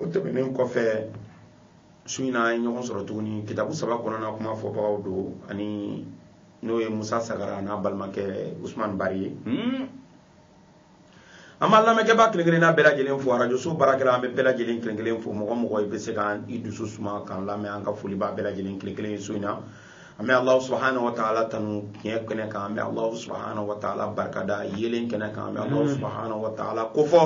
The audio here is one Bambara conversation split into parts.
o tɛmɛnen kɔfɛ su in na an ye ɲɔgɔn sɔrɔ tuguni kitabu saba kɔnɔna kuma fɔbagaw don ani n'o ye musa sagara n'a balimakɛ usman bari ye hmm. an b'a lamɛnkɛbaa kelen kelenna bɛɛ lajɛlen fo arajoso baarakɛla an bɛ bɛɛ lajɛlen kelen kelen fo mɔgɔ mɔgɔ i bɛ se ka i dusu suma k'an lamɛn an ka foli b'a bɛɛ lajɛlen kelen kelen ye su in na an bɛ alahu subahana wa taala tanu tiɲɛ kɛnɛ kan an bɛ alahu subahana wa taala barikada yeelen kɛnɛ kan an bɛ alahu hmm. subahana wa taala kofɔ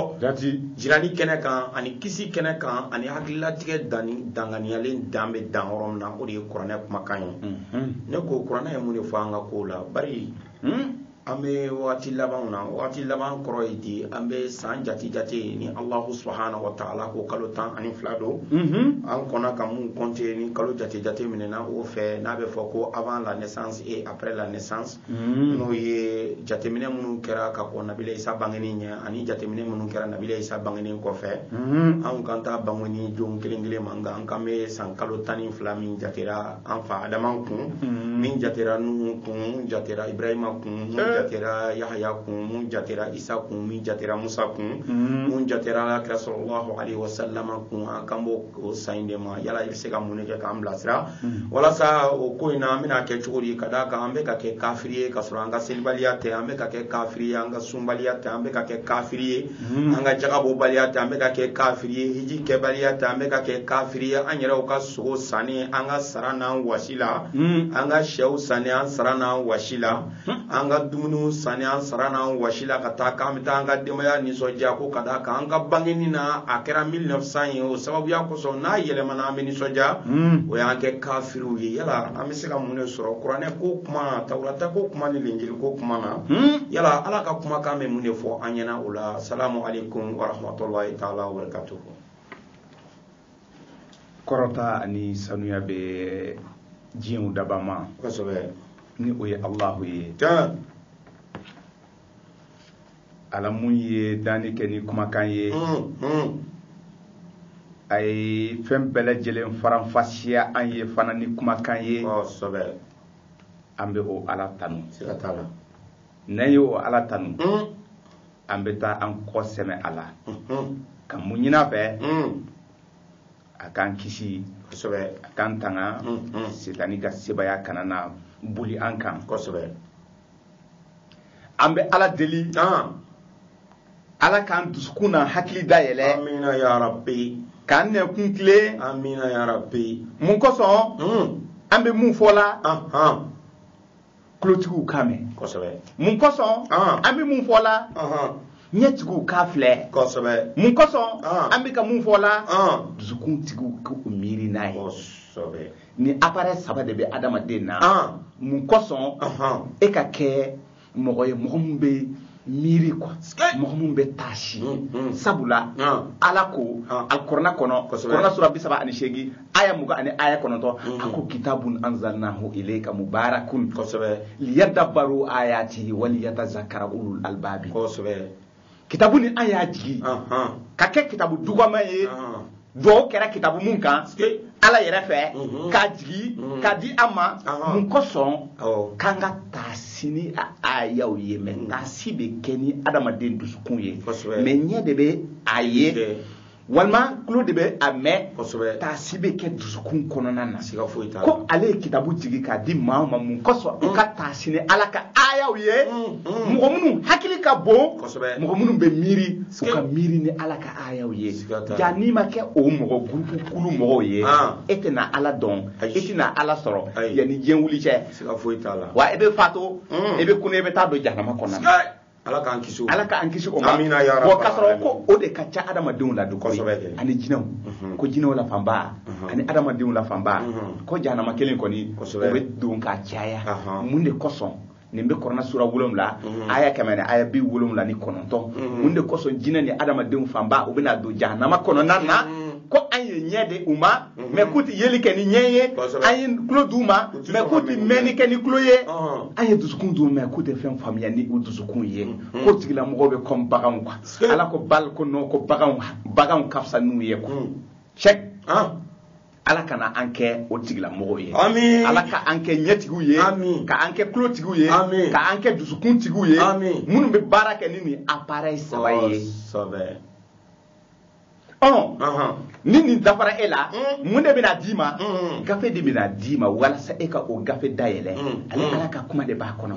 jirani kɛnɛ kan ani kisi kɛnɛ kan ani hakililatigɛ danni danganiyalen dan bɛ dan yɔrɔ min na o de ye kuranɛ kumakan ye hmm. ne ko kuranɛ ye mun de fɔ an ka kow la bari hmm. an bɛ wagati labanw na wagati laban kɔrɔ ye di an bɛ san jate jate ni alahu subahana wa taala ko kalo tan ani fila don mhm. an kɔnna ka mun kɔnte ni kalo jate jate minɛna o fɛ n'a bɛ fɔ ko avant la naissance et après la naissance mhm. n'o ye jateminɛ minnu kɛra ka kɔn nabila isa bangeni ɲɛ ani jateminɛ minnu kɛra nabila isa bangeni kɔfɛ mhm. anw kan t'a bangeni don kelen kelen ma nka an kan bɛ san kalo tan ni fila min jatera an fa adama kun mm-hmm. min jatera nuhu kun min jatera ibrahima kun mun eh. jatera yahaya kun mun jatera isa kun min jatera musa kun mm-hmm. mun jatera kira salalahu alaihi wasallama kun an kan b'o san in de ma yala i bɛ se ka mun de kɛ k'an bilasira mm-hmm. walasa o ko in na an bɛna kɛ cogo di ka d'a kan an bɛ ka kɛ kafiri ye ka sɔrɔ an ka selibaliya tɛ an bɛ ka kɛ kafiri ye an ka sunbaliya tɛ an bɛ ka kɛ kafiri ye hmm. an ka jagabɔbaliya tɛ an bɛ ka kɛ kafiri ye hiji kɛbaliya tɛ an bɛ ka kɛ kafiri ye an yɛrɛw ka sogo sanni an ka sara n'an wasi la hmm. an ka sɛw sanni an sara n'an wasi la hmm. an ka dumuniw sanni an sara n'an wasi la ka taa k'an bɛ taa an ka denbaya nisɔndiya ko ka d'a kan an ka bangeni na a kɛra 1900 ye o sababuya kosɔn n'a yɛlɛmana an bɛ nisɔndiya o y'an kɛ kafiriw ye yala an bɛ se ka mun de sɔrɔ kuranɛ ko kuma tawurata ko kuma ni linjili ko kuma na hmm? yala ala ka kumakan bɛ mun de fɔ an ɲɛna o la salamu aleykum warahmatulahi taala wabarakatuhu kɔrɔta ani sanuya bɛ diɲɛw dabaa ma kosɛbɛ ni o ye alahu ye ala mun ye danni kɛ ni kumakan ye a ye fɛn bɛɛ lajɛlen faranfasiya an ye fana ni kumakan ye an bɛ o ala tanu n'an ye o ala tanu an bɛ taa an kɔ sɛmɛ a la ka mun ɲin'a fɛ a k'an kisi a k'an tanga setani ka sebaaya kana na boli an kan an bɛ ala deli ala k'an dusukun n'an hakili da yɛlɛ k'an nɛkun tilen mun kosɔn hmm. an bɛ mun fɔ la tulotigiw k'a mɛn mun kosɔn an bɛ mun fɔ la ɲɛtigiw k'a filɛ mun kosɔn an bɛ ka mun fɔ la dusukun tigiw k'u miiri n'a ye ni appareil saba de bɛ adamaden na ah. mun kosɔn e ka kɛ mɔgɔ ye mɔgɔ min bɛ miiri quoi mɔgɔ min bɛ taasi mm, mm. sabula ah. ala ko ah. alkurana kɔnɔ kurana sura bi saba ani seegin aya mugan ani aya kɔnɔntɔn mm. a ko kitabun anzalnahu ilayka mubarakun liyadabaru ayatihi waliyatazakara ulul albabi kitabu nin an y'a jigi k'a kɛ kitabu dugama ye dugawu kɛra kitabu mun kan ala yɛrɛ fɛ mhm. k'a jigi mhm. k'a di an ma mun kosɔn k'an ka taasi ni a ayaw ye mɛ taasi bɛ kɛ ni adamaden dusukun ye mɛ ɲɛ de bɛ a ye walima tulo de bɛ a mɛn kosɛbɛ taasi bɛ kɛ dusukun kɔnɔna na siga foyi t'a la ko ale ye kitabu jigi k'a di maaw ma mun kosɔn u ka taasi ni ala ka aayaw ye mɔgɔ minnu hakili ka bon kosɛbɛ mɔgɔ minnu bɛ miiri u ka miiri ni ala ka aayaw ye Siga t'a la. ja n'i ma kɛ o mɔgɔ gurupu kulu mɔgɔw ye Ah. e tɛna ala dɔn Ayi. e tɛna ala sɔrɔ Ayi. yanni diɲɛ wuli cɛ siga foyi t'a la wa e bɛ fato Mm. e bɛ kunun e bɛ taa don jahanama kɔnɔna na Siga- ala k'an kisi o ala k'an kisi o ma amina ya rabbal k'a sɔrɔ ko o de ka ca adamadenw la donc kosɛbɛ ani jinɛw mhm. ko jinɛw la fanba mhm. ani adamadenw la fanba mhm. ko jahanama kelen kɔni o bɛ don ka caya mun de kosɔn nin bɛ kurana sura wolonwula aya kɛmɛ ni aya bi wolonwula ni kɔnɔntɔn mun de kosɔn jinɛ ni adamadenw fanba u bɛna don jahanama kɔnɔna na ko an ye ɲɛ d'u ma Mhm. mɛ k'u tɛ yeli kɛ ni ɲɛ ye an ye tulo d'u ma mɛ k'u tɛ mɛnni kɛ ni tulo ye an ye dusukun d'u ma mɛ k'u tɛ fɛn faamuya ni u dusukun ye mhm. k'o tigilamɔgɔw bɛ kɔmi baganw quoi ala ko bal ko non ko baganw baganw ka fisa n'u ye quoi cheikh ah. ala kana an kɛ o tigilamɔgɔw ye ala ka an kɛ ɲɛtigiw ye ka an kɛ tulotigiw ye ka an kɛ dusukuntigiw ye minnu bɛ baara kɛ ni nin appareil saba ye oh, ɔn ni nin dafara e la mm. mun de bɛna d'i ma mm. gafe de bɛna d'i ma walasa e ka o gafe dayɛlɛ mm. ale ala ka kuma de b'a kɔnɔ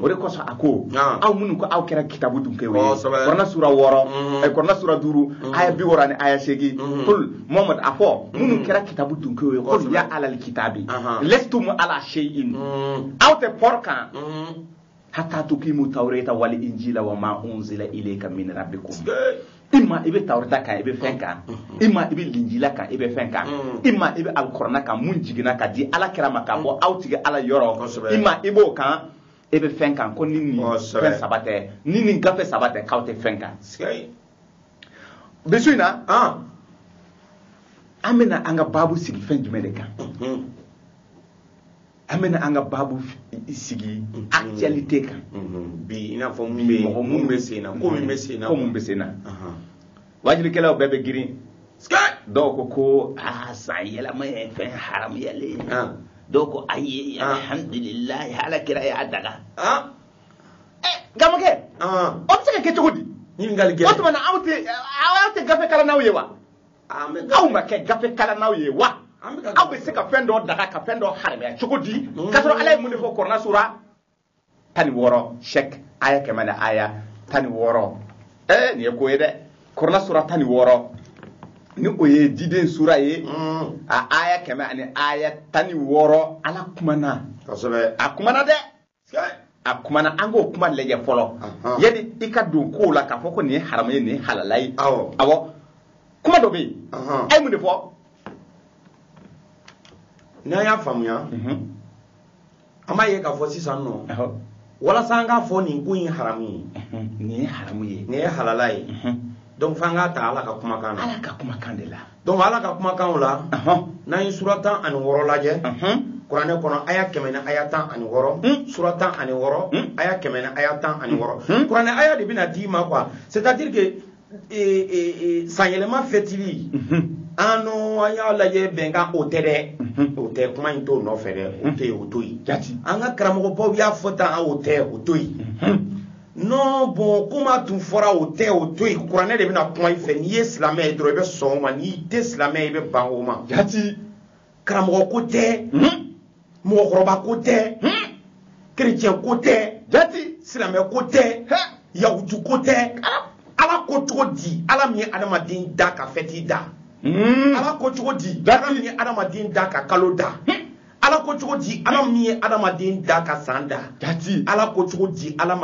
o de kosɔn a ko ah. aw minnu ko aw kɛra kitabu dunkew ye kurana sura wɔɔrɔ eh, kurana sura duuru aya bi wɔɔrɔ ni aya seegin kul mohamadu a fɔ minnu kɛra kitabu dunkew ye kul ya alal kitabi lestum ala seyin aw tɛ pɔr kan hatta tukimu tawreta wal injila wa ma unzila ilayka min rabbikum ima i bɛ tawreta kan i bɛ fɛn kan ima i bɛ linjila kan i bɛ fɛn kan ima i bɛ alkurana kan mun jiginna ka di ala kira ma ka bɔ aw tigi ala yɔrɔ ima i b'o kan e bɛ fɛn kan ko ni nin fɛn saba tɛ ni nin gafe saba tɛ k'aw tɛ fɛn kan bi su in na an bɛna an ka baabu sigi fɛn jumɛn de kan an bɛna an ka baabu sigi actualité kan bi i n'a fɔ mun bɛ yen mɔgɔ mun bɛ sen na ko min bɛ sen na ko mun bɛ sen na wajulikɛlaw bɛɛ bɛ girin dɔw ko ko aa san yɛlɛma ye fɛn haramuyalen ye dɔw ko ayi alhamdulilayi ala kira y'a daga gamakɛ o bɛ se ka kɛ cogo di ɲininkali gɛlɛn o tuma na aw tɛ aw tɛ gafe kalannaw ye wa aw ma kɛ gafe kalannaw ye wa aw bɛ se ka fɛn dɔ daga ka fɛn dɔ haramuya cogo di mm. k'a sɔrɔ ala ye mun de fɔ kurana sura tan ni wɔɔrɔ sɛk aya kɛmɛ ni aya tan ni wɔɔrɔ ɛɛ nin ye ko ye dɛ kurana sura tan ni wɔɔrɔ ni o ye diden sura ye mm. a aya kɛmɛ ani aya tan ni wɔɔrɔ ala kumana a kumana dɛ a kumana an k'o kuma lajɛ fɔlɔ yani i ka don kow la k'a fɔ ko nin ye haramu ye nin ye halala ye awɔ kuma dɔ bɛ yen a ye mun de fɔ n'an y'a faamuya mhm. an b'a ye k'a fɔ sisan nɔ walasa an k'a fɔ nin ko in haramu ye mhm. nin ye haramu ye nin ye halala ye mhm. donc f'an k'a ta ala ka kumakan na ala ka kumakan de la donc ala ka kumakanw la n'an ye sura tan ani wɔɔrɔ lajɛ kuranɛ kɔnɔ aya kɛmɛ ni aya tan ani wɔɔrɔ hmm. sura tan ani wɔɔrɔ hmm. aya kɛmɛ ni aya tan ani wɔɔrɔ hmm. kuranɛ aya de bɛna d'i ma quoi c'est à dire que e, e, e, sanyɛlɛma fɛtili an n'o an y'a lajɛ bɛnkan o tɛ dɛ o tɛ kuma in t'o nɔfɛ dɛ o tɛ yen o to yen an ka karamɔgɔbaw y'a fɔ tan o tɛ o to yen non bon kuma tun fɔra o tɛ o to yen kuranɛ de bɛna kuma i fɛ n'i ye silamɛ ye dɔrɔn i bɛ sɔn o ma n'i tɛ silamɛ ye i bɛ ban o ma jati karamɔgɔ ko tɛ hmm? mɔgɔkɔrɔba ko tɛ hmm? kerecɛn ko tɛ jati silamɛ ko tɛ yahutu ko tɛ ala ko cogo di ala min ye adamaden da ka fɛti da hmm. ala ko cogo di ala min ye adamaden da ka kalo da ala ko cogo di ala min ye adamaden da ka san da jati ala ko cogo di ala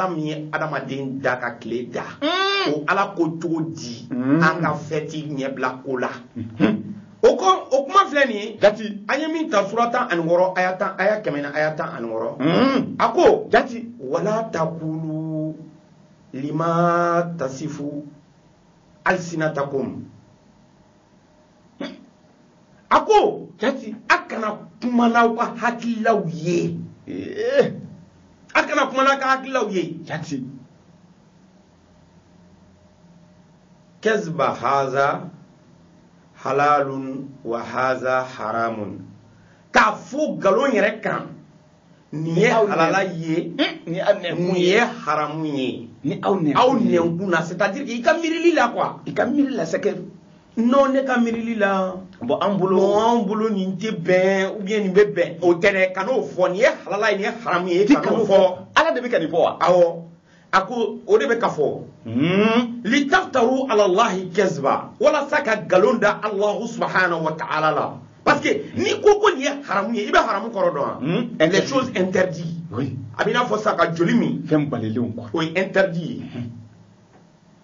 min ye adamaden da ka tile da mm. o ala ko cogo di mm. an ka fɛti ɲɛbila ko la mm-hmm. o ko o kuma filɛ nin ye jati an ye min ta sura tan ani wɔɔrɔ aya tan aya kɛmɛ ni aya tan ani wɔɔrɔ mm. a ko jati wala takulu lima tasifu alisinatakum a ko jati a kana kuma n'aw ka hakililaw ye eh. a kana kuma n'a ka hakililaw ye jati kaziba haza halalun wa haza haramun k'a fɔ nkalon yɛrɛ kan nin ye halala ye nin ye haramu ye aw nɛnkun na c'est à dire que i ka miirili la quoi i ka miirili la c'est que non ne ka miirili la bon an bolo nin tɛ bɛn ou bien nin bɛ bɛn o tɛ dɛ kan'o fɔ nin ye halala ye nin ye haramu ye kan'o fɔ ala de bɛ ka nin fɔ wa awɔ a ko o de bɛ ka fɔ hmm. litaftaru ala allahi kaziba walasa ka nkalon da alahu subahanahu wa taala la parce que n'i ko ko nin ye haramu ye i bɛ haramu kɔrɔ dɔn wa hmm. les choses interdites a b'i n'a fɔ sa ka joli min fɛn balilenw o ye interdit ye hmm.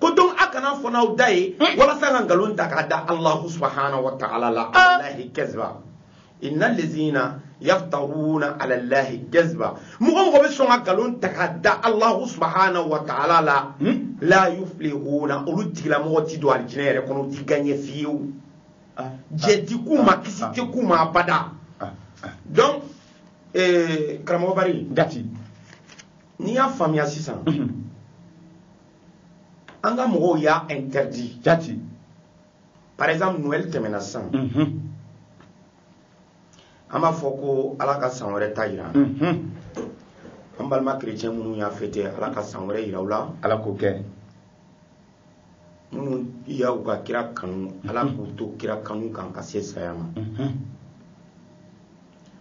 ko donc a kan'a fɔ n'aw da ye hmm. walasa ka nkalon ta k'a da alahu subahanahu wa taala la ah. alahi kaziba inna lezina yaftaruna ala lahi kaziba mɔgɔ minnu bɛ sɔn ka nkalon ta k'a da alahu subahanahu wa taala la hmm. la yuflihuna olu tigilamɔgɔ ti don alijinɛ yɛrɛ kɔnɔ u ti gaɲɛ fiyewu ah. jɛ ti k'u ma ah. kisi tɛ k'u ma abada donc eh, karamɔgɔ bari dati n'i y'a faamuya sisan mhm. an ka mɔgɔw y'a interdit jati par exemple noël tɛmɛna sisan mhm. an b'a fɔ ko ala ka san wɛrɛ ta yira mhm. an balima chrétien minnu y'a fêter ala ka san wɛrɛ yira u la ala k'o kɛ minnu y'u ka kira kanu ala k'u to kira kanu kan ka se saya ma mhm.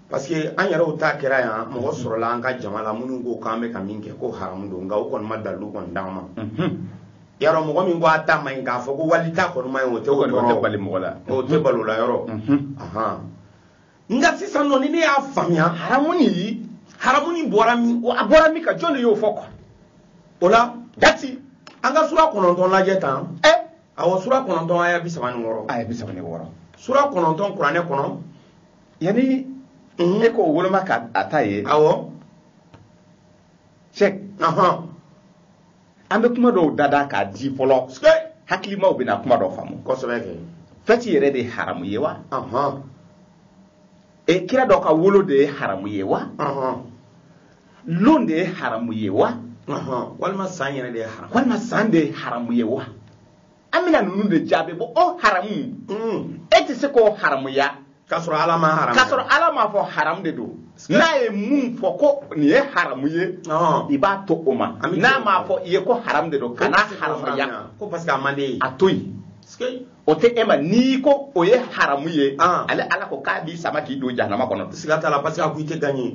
parce que an yɛrɛw ta kɛra yan mɔgɔ sɔrɔla an ka jama la minnu ko k'an bɛ ka min kɛ ko haramu don nka u kɔni ma dalilu kɔni d'an ma yarɔ mɔgɔ min ko a ta man ɲi k'a fɔ ko wali ta kɔni man ɲi o tɛ o tɛ bali mɔgɔ la o tɛ balo la yɔrɔ nka sisan nɔ ni ne y'a faamuya haramu nin haramu nin bɔra min a bɔra min ka jɔn de y'o fɔ quoi o la dati an ka sura kɔnɔntɔn lajɛ tan ɛ awɔ sura kɔnɔntɔn aya bi saba ni wɔɔrɔ aya bi saba ni wɔɔrɔ sura kɔnɔntɔn kuranɛ kɔnɔ yanni Mhm. e k'o woloma ka a ta ye awɔ cheick ɔhɔn an bɛ kuma dɔw dada k'a di fɔlɔ sikɛ hakilimaw bɛna kuma dɔ faamu kosɛbɛ kɛ fɛti yɛrɛ de ye haramu ye wa ɔhɔn e kira dɔ ka wolo de ye haramu ye wa ɔhɔn lon de ye haramu ye wa ɔhɔn walima san yɛrɛ de ye haram walima san de ye haramu ye wa an bɛna ninnu de jaabi bɔ o haramu hmm. e tɛ se k'o haramuya k'a sɔrɔ ala m'a haramu k'a sɔrɔ ala m'a fɔ haramu de don n'a ye mun fɔ ko nin ye haramu ye i b'a to o ma n'a m'a fɔ i ye ko haramu de don kan'a haramuya ko parce que a man d'i ye a to yen o tɛ e ma n'i ko o ye haramu ye ale ala ko k'a b'i sama k'i don jahanama kɔnɔ siga t'a la parce que a ko i tɛ gagner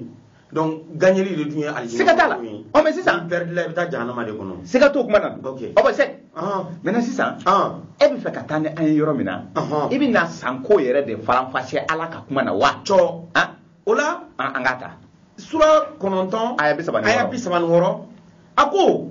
donc gagneli de tun ye alijinɛ siga t'a la ɔ mais sisan perdre la i bɛ taa jahanama de kɔnɔ siga t'o kuma na ok o bɛ se maintenant sisan e bɛ fɛ ka taa ni an ye yɔrɔ min na i bɛ na san ko yɛrɛ de faranfasi ala ka kuma na wa cɔ o la an ka ta sura kɔnɔntɔn aya bi saba ni wɔɔrɔ a ko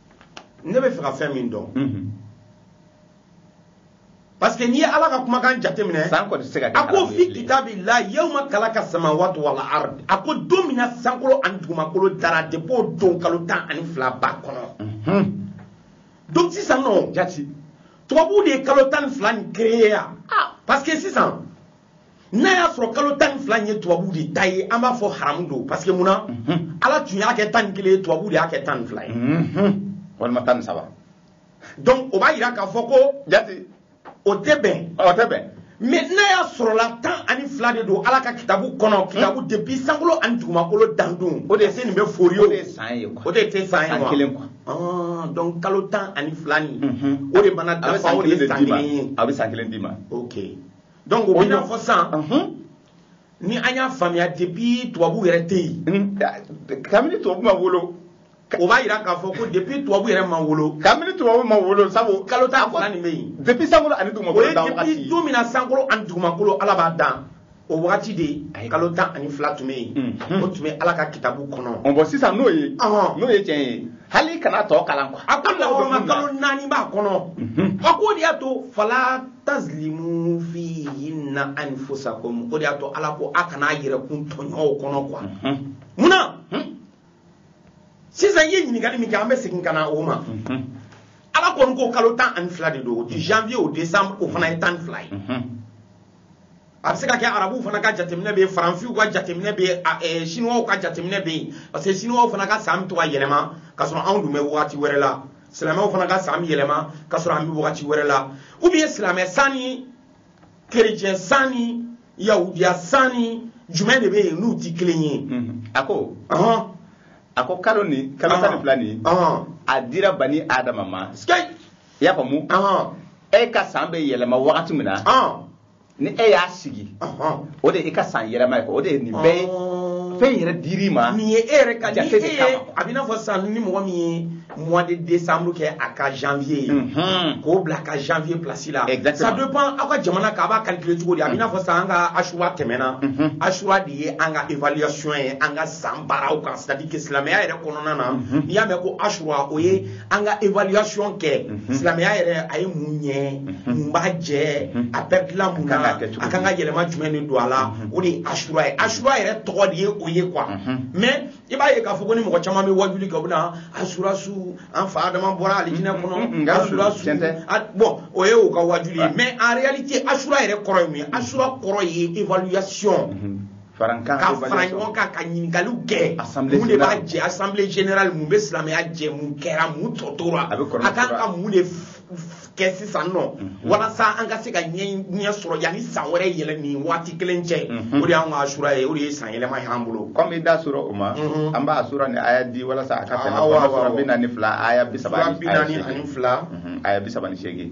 ne bɛ fɛ ka fɛn min dɔn parce que n'i ye ala ka kumakan jateminɛ san kɔni tɛ se ka kɛ a ko fi kitabillahi yawma khalaqa samawati wal ard a ko don min na sankolo ani dugumakolo dara depuis o don kalo tan ani fila b'a kɔnɔ donc sisan nɔ jati tubabuw de ye kalo tan ni fila nin créer yan parce que sisan n'a y'a sɔrɔ kalo tan ni fila in ye tubabuw de ta ye an b'a fɔ haramu don parce que mun na mhm. ala tun y'a kɛ tan ni kelen ye tubabuw de y'a kɛ tan ni fila ye mhm. walima tan ni saba donc o b'a yira k'a fɔ ko jate o tɛ bɛn o tɛ bɛn mais n'a y'a sɔrɔla tan ani fila de don ala ka kitabu kɔnɔ kitabu hmm? depuis sankolo ani dugumakolo dandon o de se nin bɛ fori ye o de san ye o de tɛ san ye wa kelen quoi ah, donc kalo tan ani fila nin mhm. o de mana dafa o de ye san kelen ye a bɛ san kelen d'i ma ok donc o bɛ n'a fɔ sisan ni an y'a faamuya depuis tubabu yɛrɛ tɛ yen kabini tubabu ma wolo o b'a yira k'a fɔ ko depuis tubabu yɛrɛ ma wolo kabini tubabu ma wolo sabu kalo tan fila nin bɛ yen depuis sankolo ani dugumakolo dan wagati o ye depuis don min na sankolo ani dugumakolo ala b'a dan o wagati de kalo tan ani fila tun bɛ yen o tun bɛ ala ka kitabu kɔnɔ ɔ bon sisan n'o ye n'o ye tiɲɛ ye hali i kan'a tɔ kalan quoi a ko lahɔrɔma kalo naani b'a kɔnɔ a ko o de y'a to fala tazlimu fihinna anfusakum o de y'a to ala ko a kana a yɛrɛkun tɔɲɔ u kɔnɔ quoi munna sisan i ye ɲininkali min kɛ an bɛ segin ka na o ma ala kɔni ko kalo tan ani fila de don janvier au décembre o fana ye tan ni fila ye a bɛ se ka kɛ arabuw fana ka jateminɛ bɛ yen faransiw ka jateminɛ bɛ yen eh, siniwaw ka jateminɛ bɛ yen parce que siniwaw fana ka san bɛ to ka yɛlɛma k'a sɔrɔ anw dun bɛ wagati wɛrɛ la silamɛw fana ka san bɛ yɛlɛma k'a sɔrɔ an bɛ wagati wɛrɛ la ou bien silamɛ san ni kerecɛn san ni yahudiya san ni jumɛn de bɛ yen n'u tɛ kelen ye. Mhm. a ko. a ko kalo nin kalo tan ni fila nin a dira bani adama ma. i y'a faamu e ka san bɛ yɛlɛma wagati min na ni e y'a sigi o de e ka san yɛlɛma ye o de ye nin bɛɛ ye fɛn yɛrɛ dir'i ma nin ye e yɛrɛ ka jate de kama a b'i n'a fɔ sisan ni mɔgɔ min ye mois de décembre kɛ a ka janvier ye mhm. k'o bila a ka janvier place la ça dépend aw ka jamana kan a b'a calculer cogo di a b'i n'a fɔ sisan an ka asura tɛmɛna mhm. asura de ye an ka évaluation ye an ka san baaraw kan c'est à dire que silamɛya yɛrɛ kɔnɔna na mhm. n'i y'a mɛn ko asura o ye an ka évaluation kɛ mhm. silamɛya yɛrɛ a ye mun ɲɛ mhm. mun b'a jɛ mhm. a pɛridila mun na a kan ka yɛlɛma jumɛn de don a la o de ye asura ye asura yɛrɛ tɔgɔ de ye o ye quoi mais i b'a ye k'a fɔ ko ni mɔgɔ caman bɛ wajuli kɛ u bɛna asura su an fa adama bɔra alijinɛ kɔnɔ asura su bon o ye u ka wajuli ye mais en réalité asura yɛrɛ kɔrɔ ye mun ye asura kɔrɔ ye évaluation ka fara ɲɔgɔn kan ka ɲininkaliw kɛ mun de b'a jɛ assemblée générale mun bɛ silamɛya jɛ mun kɛra mun tɔ tora a kan ka mun de kɛ sisan nɔ mhm. walasa an ka se ka ɲɛ sɔrɔ yanni san wɛrɛ yɛlɛ nin waati kelen cɛ mhm. o de y'an ka asura ye o de ye san yɛlɛma ye an bolo comme i da sera o ma mhm. an b'a sura ni aya di walasa a ka tɛmɛ sura bi naani ni fila aya bi saba ni seegin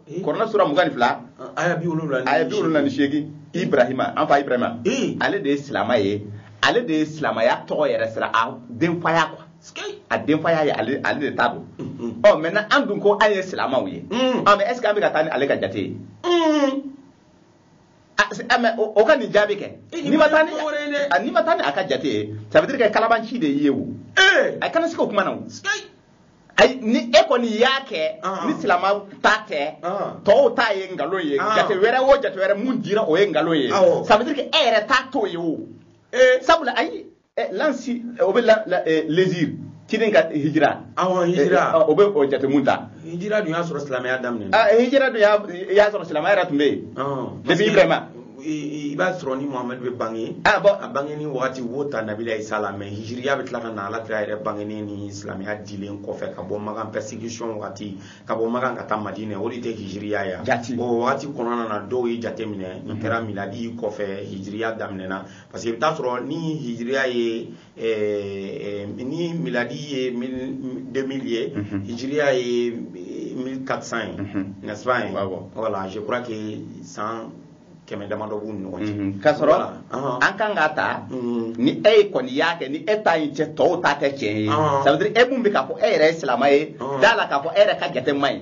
eh. kuranɛ sura mugan ni fila aya bi wolonwula ni seegin ibrahima an fa ibrahima eh. ale de ye silama ye ale de ye silamaya tɔgɔ yɛrɛ sira a denfaya quoi a denfaya ye ale de ta don mm-hmm. ɔ maintenant an dun ko an ye silamaw ye mm. ɔ mais est-ce que an bɛ ka taa ni ale ka jate ye mm. mais o ka nin jaabi kɛ eh, n'i ma taa ni n'i ma taa ni a ka jate ye ça veut dire que kalabanci de y'i ye o a kana se k'o kuma na o ayi ni e kɔni y'a kɛ ah. ni silama ta tɛ ah. tɔw ta ye nkalon ye ah. jate wɛrɛ o jate wɛrɛ mun dira o ye nkalon ye ça veut dire que e yɛrɛ ta t'o ye o eh. sabula ayi eh, lansi eh, o bɛ l'hégire ciden ka hijira awɔ hijira o bɛ o jate mun ta hijira dun y'a sɔrɔ silamɛya daminɛna hijira dun y'a sɔrɔ silamɛya yɛrɛ tun bɛ yen depuis ibrahima i b'a sɔrɔ ni muhamadu bɛ bange ah, a bangeni wagati wo ta nabila isa la mais hijiriya bɛ tila ka na ala kira yɛrɛ bangeni ni silamɛya dilen kɔfɛ ka bɔ makan persécution wagati ka bɔ makan ka taa madinɛ o de tɛ hijiriya ye jati o wagati kɔnɔna na dɔw ye jate minɛ nin kɛra miladi kɔfɛ hijiriya daminɛna parce que i bɛ taa sɔrɔ ni hijiriya ye Eh, eh, ni miladi ye 2000 ye mhm. hijiriya ye 1400 eh, ye mhm. n'est-ce pas ye voilà je crois que san kɛmɛ damadɔ b'u ni ɲɔgɔn cɛ mhm. k'a sɔrɔ an kan k'a ta ni e ye kɔni y'a kɛ ni e ta in tɛ tɔw ta tɛ tiɲɛ ye ça veut dire e mun bɛ k'a fɔ e yɛrɛ ye silamɛ ye d'a la k'a fɔ e yɛrɛ ka jate man ɲi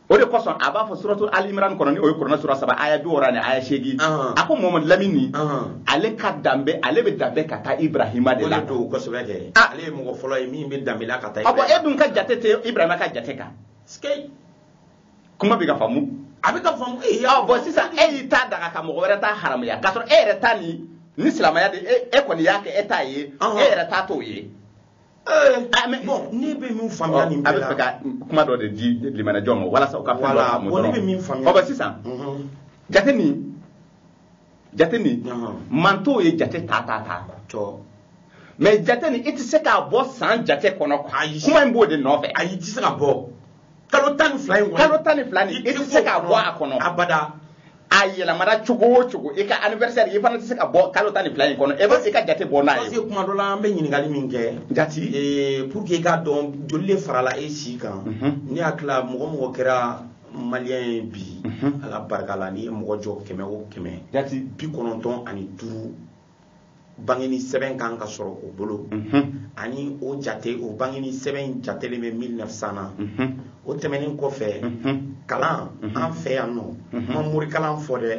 o de kosɔn a b'a fɔ suratu ali imran kɔnɔ ni o ye kurana sura saba aya bi wɔɔrɔ ni aya seegin a ko mohamadu lamini ale ka danbe ale bɛ danbe ka taa ibrahima de la o de don kosɛbɛ kɛ ale ye mɔgɔ fɔlɔ ye min bɛ danbe la ka taa ibrahima e dun ka jate tɛ ibrahima ka jate kan kuma bɛ ka faamu a bɛ ka faamu ee bon sisan e y'i ta daga ka mɔgɔ wɛrɛ ta haramuya k'a sɔrɔ e yɛrɛ ta ni ni silamɛya de e kɔni y'a kɛ e ta ye e yɛrɛ ta t'o ye Eh, ah, ne bɛ min faamuya oh, nin bɛɛ la a bɛ fɛ ka kuma dɔ de di lamɛnni jama ma walasa u ka fɛn dɔ faamu dɔrɔn ne bɛ min faamuya ɔ sisan mhm. jate nin jate nin mantɔnw ye jate ta ta ta mais jate nin i tɛ se k'a bɔ san jate kɔnɔ kuma in b'o de nɔfɛ ayi i tɛ se ka bɔ kalo tan ni fila in kalo tan ni fila nin i tɛ se k'a bɔ a kɔnɔ abada a yɛlɛmana cogo o cogo i ka anniversaire i fana tɛ se ka bɔ kalo tan ni fila in kɔnɔ e bɛ se ka jate bɔ n'a ye. parce que kuma dɔ la an bɛ ɲininkali min kɛ. jati ee pour que i k'a dɔn joli de farala e si kan. ne hakili la mɔgɔ o mɔgɔ kɛra maliyɛn ye bi. ala barika la n'i ye mɔgɔ jɔ kɛmɛ o kɛmɛ. jati bi kɔnɔntɔn ani duuru. bangeni sɛbɛn kan ka sɔrɔ o bolo ani o jate o bangeni sɛbɛn in jatelen bɛ 1900 na o tɛmɛnen kɔfɛ kalan an fɛ yan ne ma morikalan fɔ dɛ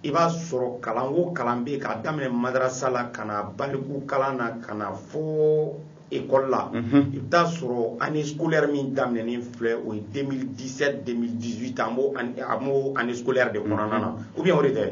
i b'a sɔrɔ kalan o kalan bɛ yen k'a daminɛ madarasa la ka na baliku kalan na ka na fo école la i bɛ taa sɔrɔ année scolaire min daminɛnen filɛ o ye 2017 2018 an b'o an b'o année scolaire de kɔnɔna na ou bien o de tɛ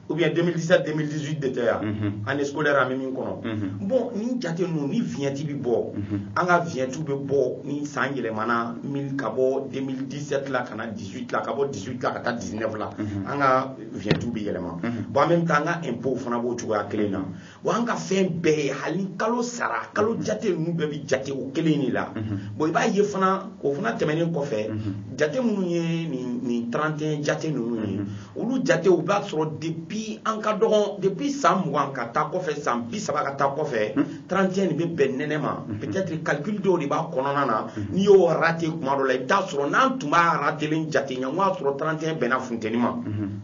ou bien 2017 2018 de tɛ ya année scolaire an bɛ min kɔnɔ bon nin jate ninnu ni vignette bɛ bɔ an ka vignette bɛ bɔ ni san yɛlɛmana min ka bɔ 2017 la ka na 18 la ka bɔ 18 la ka taa 19 la an ka vignette bɛ yɛlɛma bon en même temps an ka impôt fana b'o cogoya kelen na. wa an ka fɛn bɛɛ ye hali ni kalo sara kalo jate ninnu bɛɛ bɛ jate o kelen de la bon i b'a ye fana o fana tɛmɛnen kɔfɛ jate minnu ye nin nin 31 jate ninnu ye olu jate u b'a sɔrɔ depuis an ka dɔgɔn depuis san mugan ka taa kɔfɛ san bi saba ka taa kɔfɛ 31 nin bɛ bɛn nɛnɛ ma peut-être calcul dɔw de b'a kɔnɔna na n'i y'o rate kuma dɔ la i bɛ taa sɔrɔ n'an tun b'a ratelen jate ɲɛ n k'a sɔrɔ 31 bɛnna funteni ma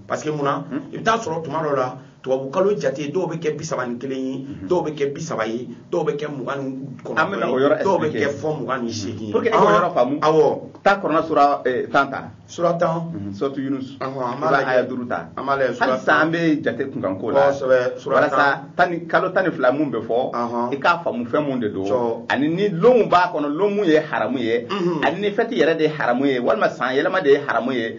parce que mun na i bɛ taa sɔrɔ tuma dɔ la tubabu kalo jate dɔw bɛ kɛ bi saba ni kelen ye mhm. dɔw bɛ kɛ bi saba ye dɔw bɛ kɛ mugan ni kɔnɔntɔn ye dɔw bɛ kɛ fɔ mugan ni seegin ye pour que e k'o yɔrɔ faamu awɔ taa kurana sura eh, tan ta sura tan mhm, suratu yunus an b'a lajɛ aya duuru ta an b'a lajɛ sura tan halisa an bɛ jate kunkan ko la kosɛbɛ sura tan walasa tan ni kalo tan ni fila mun bɛ fɔ i k'a faamu fɛn mun de don ani ni lonw b'a kɔnɔ lon mun ye haramu ye mhm. ani ni fɛti yɛrɛ de ye haramu ye walima san yɛlɛma de ye haramu ye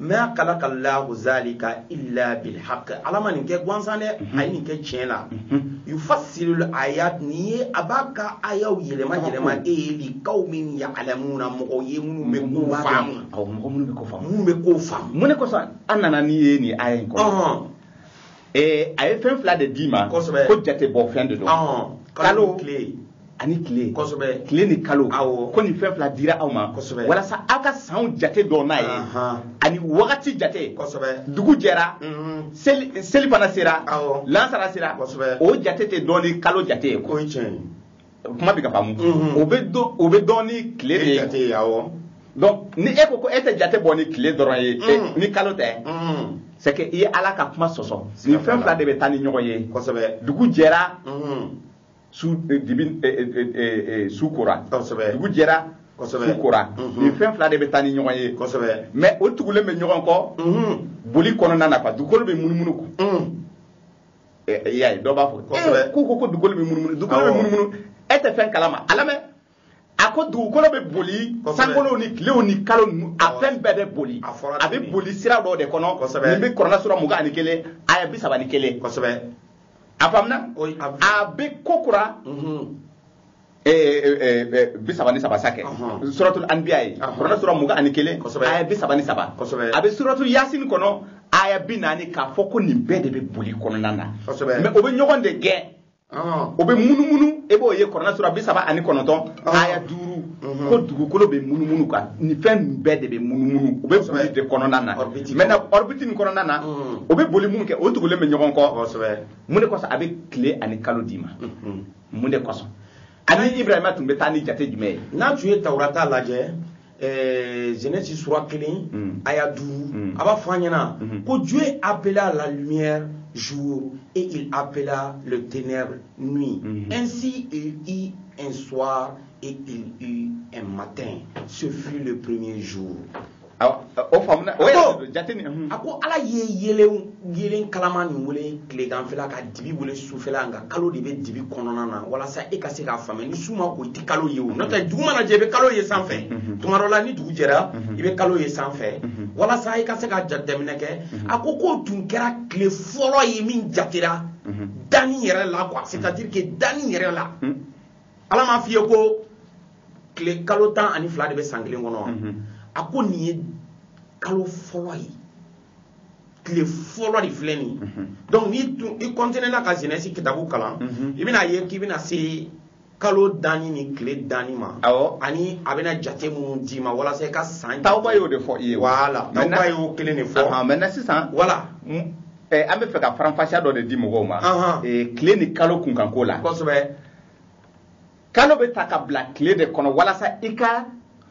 ma khalaqa Allahu zalika illa bil haqq ala ma nin kɛ gansan dɛ mhm. a ye nin kɛ tiɲɛ la mhm. yufassilul ayat nin ye a b'a ka ayaw yɛlɛma yɛlɛma e ye li qaumin ya'lamuna mɔgɔw ye minnu bɛ ko faamu awɔ mɔgɔ minnu bɛ ko faamu minnu bɛ ko faamu mun de kosɔn an nana n'i ye nin aya in kɔnɔ a ye fɛn fila de d'i ma ko jate bɔ fɛn de don kalo ani tile tile ni kalo ko nin fɛn fila dira aw ma walasa aw ka sanw jate dɔn n'a ye ani wagati jate dugu jɛra mhm. selifana sera lansara sera o jate tɛ dɔn ni kalo jate ye kuma bɛ ka faamu mhm. o bɛ dɔn o bɛ dɔn ni tile de ye jate ye awɔ donc ni e ko ko e tɛ jate bɔ ni tile dɔrɔn ye mhm. ni kalo tɛ mhm. c'est que i ye ala ka kuma sɔsɔ nin fɛn fila de bɛ taa ni ɲɔgɔn ye kosɛbɛ dugu jɛra su eh, dibi eh, eh, su kora kosɛbɛ dugu jɛra su kora nin fɛn fila de bɛ taa ni ɲɔgɔn ye kosɛbɛ mais o tugulen bɛ ɲɔgɔn kɔ boli kɔnɔna na quoi dugukolo bɛ munumunu i y'a ye dɔ b'a fɔ ee ko ko ko dugukolo bɛ munumunu dugukolo bɛ munumunu e tɛ fɛn kalama a lamɛn a ko dugukolo bɛ boli sankolow ni tilew ni kalo ninnu a fɛn bɛɛ bɛ boli a bɛ boli sira dɔ de kɔnɔ nin bɛ kuranɛ sura mugan ani kelen aya bi saba ni kelen a faamuna a bɛ kokura bi saba ni saba sa kɛ suratul anbiya ye kuranɛ sura mugan ani kelen aya bi saba ni saba a bɛ suratul yasin kɔnɔ aya bi naani k'a fɔ ko nin bɛɛ de bɛ boli kɔnɔna na mais o bɛ ɲɔgɔn de gɛn o bɛ munumunu e b'o ye kuranɛ sura bi saba ani kɔnɔntɔn aya duuru ko dugukolo bɛ munumunu quoi nin fɛn bɛɛ de bɛ munumunu u bɛ boli de kɔnɔna na maintenant orbite nin kɔnɔna na o bɛ boli minnu kɛ o tugulen bɛ ɲɔgɔn kɔ mun de kosɔn a bɛ tile ani kalo d'i ma mun de kosɔn ani ibrahima tun bɛ taa ni jate jumɛn ye n'a tun ye tawurata lajɛ eh, Genèse sura kelen mm. aya duuru mm. a b'a fɔ an ɲɛna mm-hmm. ko Dieu appela la lumière jour et il appela le ténèbre nuit mm-hmm. ainsi il y eut un soir et il y eut un matin ce fut le premier jour o faamuna o yɛrɛ jate ni a ko ala ye yeelen yeelen kalama nin wele tileganfɛla ka dibi wele sufɛla nka kalo de bɛ dibi kɔnɔna na walasa e ka se k'a faamuya ni su ma ko i tɛ kalo ye o n'o tɛ dugu mana jɛ i bɛ kalo ye sanfɛ tuma dɔ la ni dugu jɛra i bɛ kalo ye sanfɛ walasa i ka se ka jateminɛ kɛ a ko k'o tun kɛra tile fɔlɔ ye min jatera danni yɛrɛ la quoi c'est à dire que danni yɛrɛ la ala m'a f'i ye ko tile kalo tan ani fila de bɛ san kelen kɔnɔ wa mhm. a ko nin ye kalo fɔlɔ ye tile fɔlɔ de filɛ nin mhm. donc n'i continuer na ka genèse kitabu kalan mhm. i bɛna ye k'i bɛna se kalo danni ni tile danni ma awɔ ani a bɛna jate minnu d'i ma walasa i ka san tawuba y'o de fɔ i ye voilà tawuba y'o kelen de fɔ maintenant sisan voilà eh, an bɛ fɛ ka faranfasiya dɔ de di mɔgɔw ma eh, tile ni kalo kunkanko la kosɛbɛ kalo bɛ ta ka bila tile de kɔnɔ walasa i ka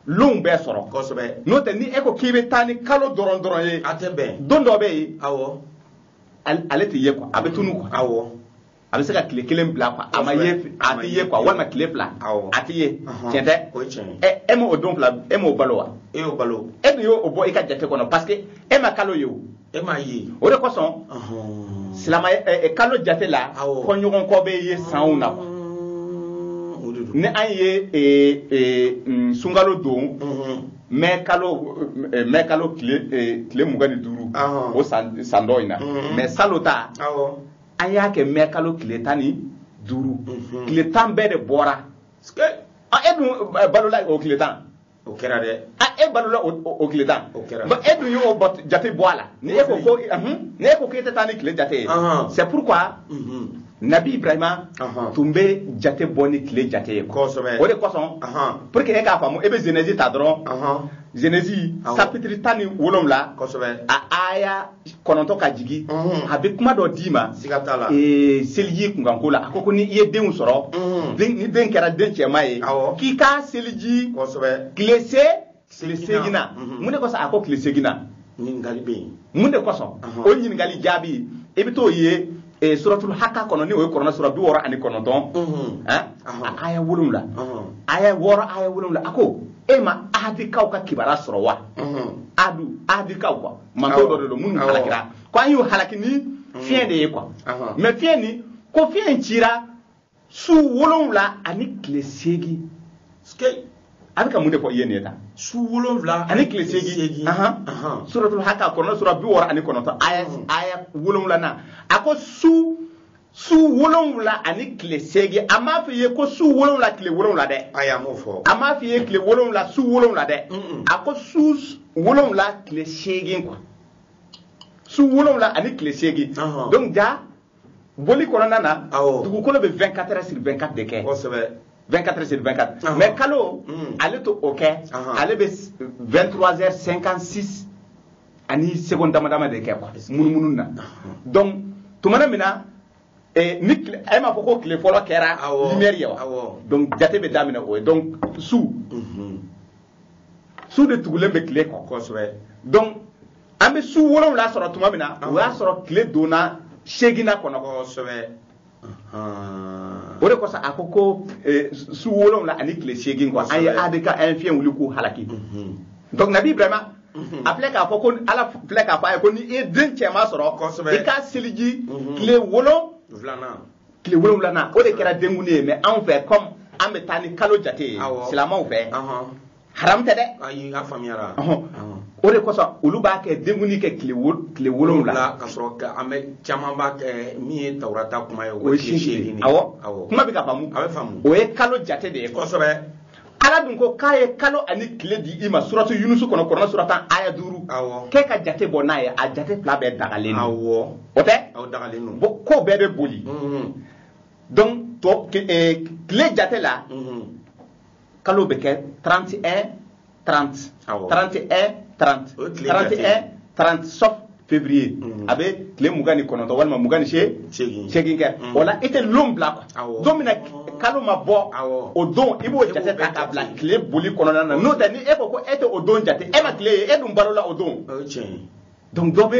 lonw bɛɛ sɔrɔ kosɛbɛ n'o tɛ ni e ko k'i bɛ taa ni kalo dɔrɔn dɔrɔn ye a tɛ bɛn don dɔ bɛ yen awɔ ale tɛ ye quoi a bɛ tunun quoi awɔ a bɛ se ka tile kelen bila quoi a ma ye a tɛ ye quoi walima tile fila awɔ a tɛ ye tiɲɛ tɛ o ye tiɲɛ ye ɛ e m'o don fila e m'o balo wa e y'o balo e dun y'o bɔ i ka jate kɔnɔ parce que e ma kalo ye o e m'a ye o de kosɔn silama kalo jate la kɔɲɔgɔn kɔ bɛ ye sanw na quoi ni an ye eh, eh, mm, sunkalo don mm-hmm. mɛ kalo eh, mɛ kalo tile mugan ni duuru o san dɔ in na mm-hmm. mais salon ta an y'a kɛ mɛ kalo tile tan ni duuru mm-hmm. tile tan bɛɛ de bɔra e dun balola o tile tan o kɛra dɛ a e balola o tile tan o kɛra e dun y'o jate bɔ a la ni e ko ko ni e ko k'e tɛ taa ni tile jate ye c'est pourquoi nabi ibrahima tun bɛ jate bɔ ni tile jate ye kosɛbɛ o de kosɔn pour que e k'a faamu e bɛ genèse ta dɔrɔn genèse sapitiri tan ni wolonwula kosɛbɛ a aya kɔnɔntɔn ka jigin mhm. a bɛ kuma dɔ d'i ma seliji kunkanko la a ko ko ni i ye denw sɔrɔ mhm. ni den kɛra den cɛman ye k'i ka seliji tile se tile seeginnan mhm. mun de kosɔn a ko tile seeginnan ɲininkali bɛ yen mun de kosɔn o ɲininkali jaabi i bɛ t'o ye eh, suratul haka kɔnɔ ni o ye kuranɛ sura bi wɔɔrɔ ani kɔnɔntɔn eh? a aya wolonwula aya wɔɔrɔ aya wolonwula a ko e ma adikaw ka kibaruya sɔrɔ wa adu adikaw quoi mantɔn dɔ de don minnu halakira ko an y'u halaki ni mm. fiɲɛ de ye quoi mais fiɲɛ nin ko fiɲɛ in cira su wolonwula ani tile seegin a bɛ ka mun de fɔ i ye nin ye tan su wolonwula ani tile seegin suratul haka kɔnɔ sura bi wɔɔrɔ ani kɔnɔntɔn aya mm. aya wolonwulanan a ko su su wolonwula ani tile seegin a m'a f'i ye ko su wolonwula tile wolonwula dɛ ayi a m'o fɔ a m'a f'i ye tile wolonwula su wolonwula dɛ a ko su wolonwula tile seegin quoi su wolonwula ani tile seegin donc ja boli kɔnɔna na dugukolo bɛ 24 heures sur 24 de kɛ kosɛbɛ 24 sur 24 mais kalo mm. ale t'o kɛ ale bɛ 23 heures 56 ani seconde dama dama de kɛ quoi munumunu na donc tumana min na eh, ni tile- e m'a fɔ ko tile fɔlɔ kɛra Awɔ. lumière ye wa Awɔ. donc jate bɛ daminɛ o ye donc su Mhm. su de tugulen bɛ tile kɔ kosɛbɛ donc an bɛ su wolonwula sɔrɔ tuma min na o y'a sɔrɔ tile donna seeginnan kɔnɔ kosɛbɛ o de kosɔn a ko ko eh, su wolonwula ani tile seegin quoi an ye adi ka an ye fiɲɛ wuli k'u halaki mhm. donc nabi ibrahima mhm. a filɛ k'a fɔ ko ala filɛ k'a fɔ a ye ko ni i ye den cɛman sɔrɔ i k'a seliji mhm. tile wolon tile wolonwulanan o de kɛra denkundi ye mais anw fɛ comme an bɛ taa ni kalo jate ye silamɛw fɛ haram tɛ dɛ ayi a faamuyara o de kosɔn olu b'a kɛ denkundi kɛ tile wolonwula ka sɔrɔ an bɛ caman b'a kɛ min ye tawurata kuma ye o ye tile seegin de awɔ kuma bɛ ka faamu a bɛ faamu o ye kalo jate de ye kosɛbɛ ala dun ko k'a ye kalo ani tile di i ma suratu yunusu kɔnɔ kuranɛ sura tan aya duuru k'e ka jate bɔ n'a ye a jate fila bɛɛ dagalen don o tɛ ko bɛɛ bɛ boli donc tile jate la kalo bɛ kɛ 31 30 awɔ 31 30 o tile 31 30 sauf février mhm. a bɛ tile mugan ni kɔnɔntɔn walima mugan ni seegin seegin kɛ mhm. o la i tɛ lon bila quoi don min na kalo ma bɔ o don i b'o jate ta k'a bila tile boli kɔnɔna na n'o tɛ ni e ko ko e tɛ o don jate e ma tile ye e dun balola o don donc dɔ bɛ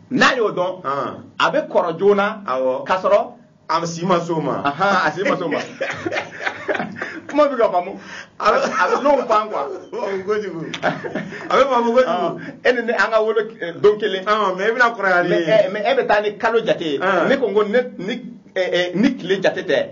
n'a y'o dɔn a bɛ kɔrɔ joona k'a sɔrɔ a si ma s'o ma a si ma s'o ma kuma bɛ ka faamu a bɛ lon pan quoi kojugu a bɛ faamu kojugu e ni ne an ka wolo eh, don kelen mais e bɛna kɔrɔya ni n ye mais e bɛ taa ni kalo jate ye ne ko n ko ne ni eh, eh, ni tile jate tɛ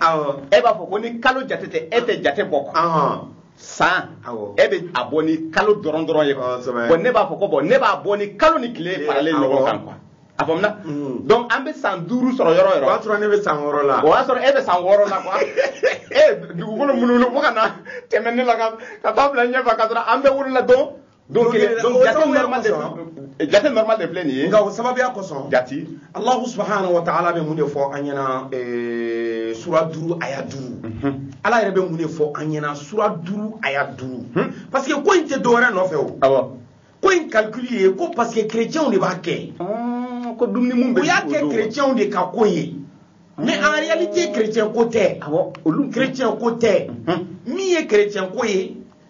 e b'a fɔ ko ni kalo jate tɛ e tɛ jate bɔ quoi san e bɛ a bɔ ni kalo dɔrɔn dɔrɔn ye bon ne b'a fɔ ko bon ne b'a bɔ ni kalo ni tile faralen ɲɔgɔn kan quoi a faamuna mm. donc an bɛ san duuru sɔrɔ yɔrɔ o yɔrɔ o y'a sɔrɔ ne bɛ san wɔɔrɔ la o y'a sɔrɔ e bɛ san wɔɔrɔ la quoi e dugukolo munumunu fo ka na tɛmɛ ne la ka taa bila ɲɛfɛ ka sɔrɔ an bɛɛ wolola don donc donc jate normal de filɛ jate normal de filɛ nin ye nka o sababuya kosɔn jati alahu subahana wa taala bɛ mun de fɔ an ɲɛna eh, sura duuru aya duuru mhm. ala yɛrɛ bɛ mun de fɔ an ɲɛna sura duuru aya duuru mhm. parce que ko in tɛ dɔwɛrɛ nɔfɛ o awɔ ko in calcul ye ko parce que chrétienw de b'a kɛ ah, ko dumuni mun bɛ o y'a kɛ chrétienw de ka ko ye mais en réalité chrétien ko tɛ awɔ olu chrétien ko tɛ mhm. min ye chrétien ko ye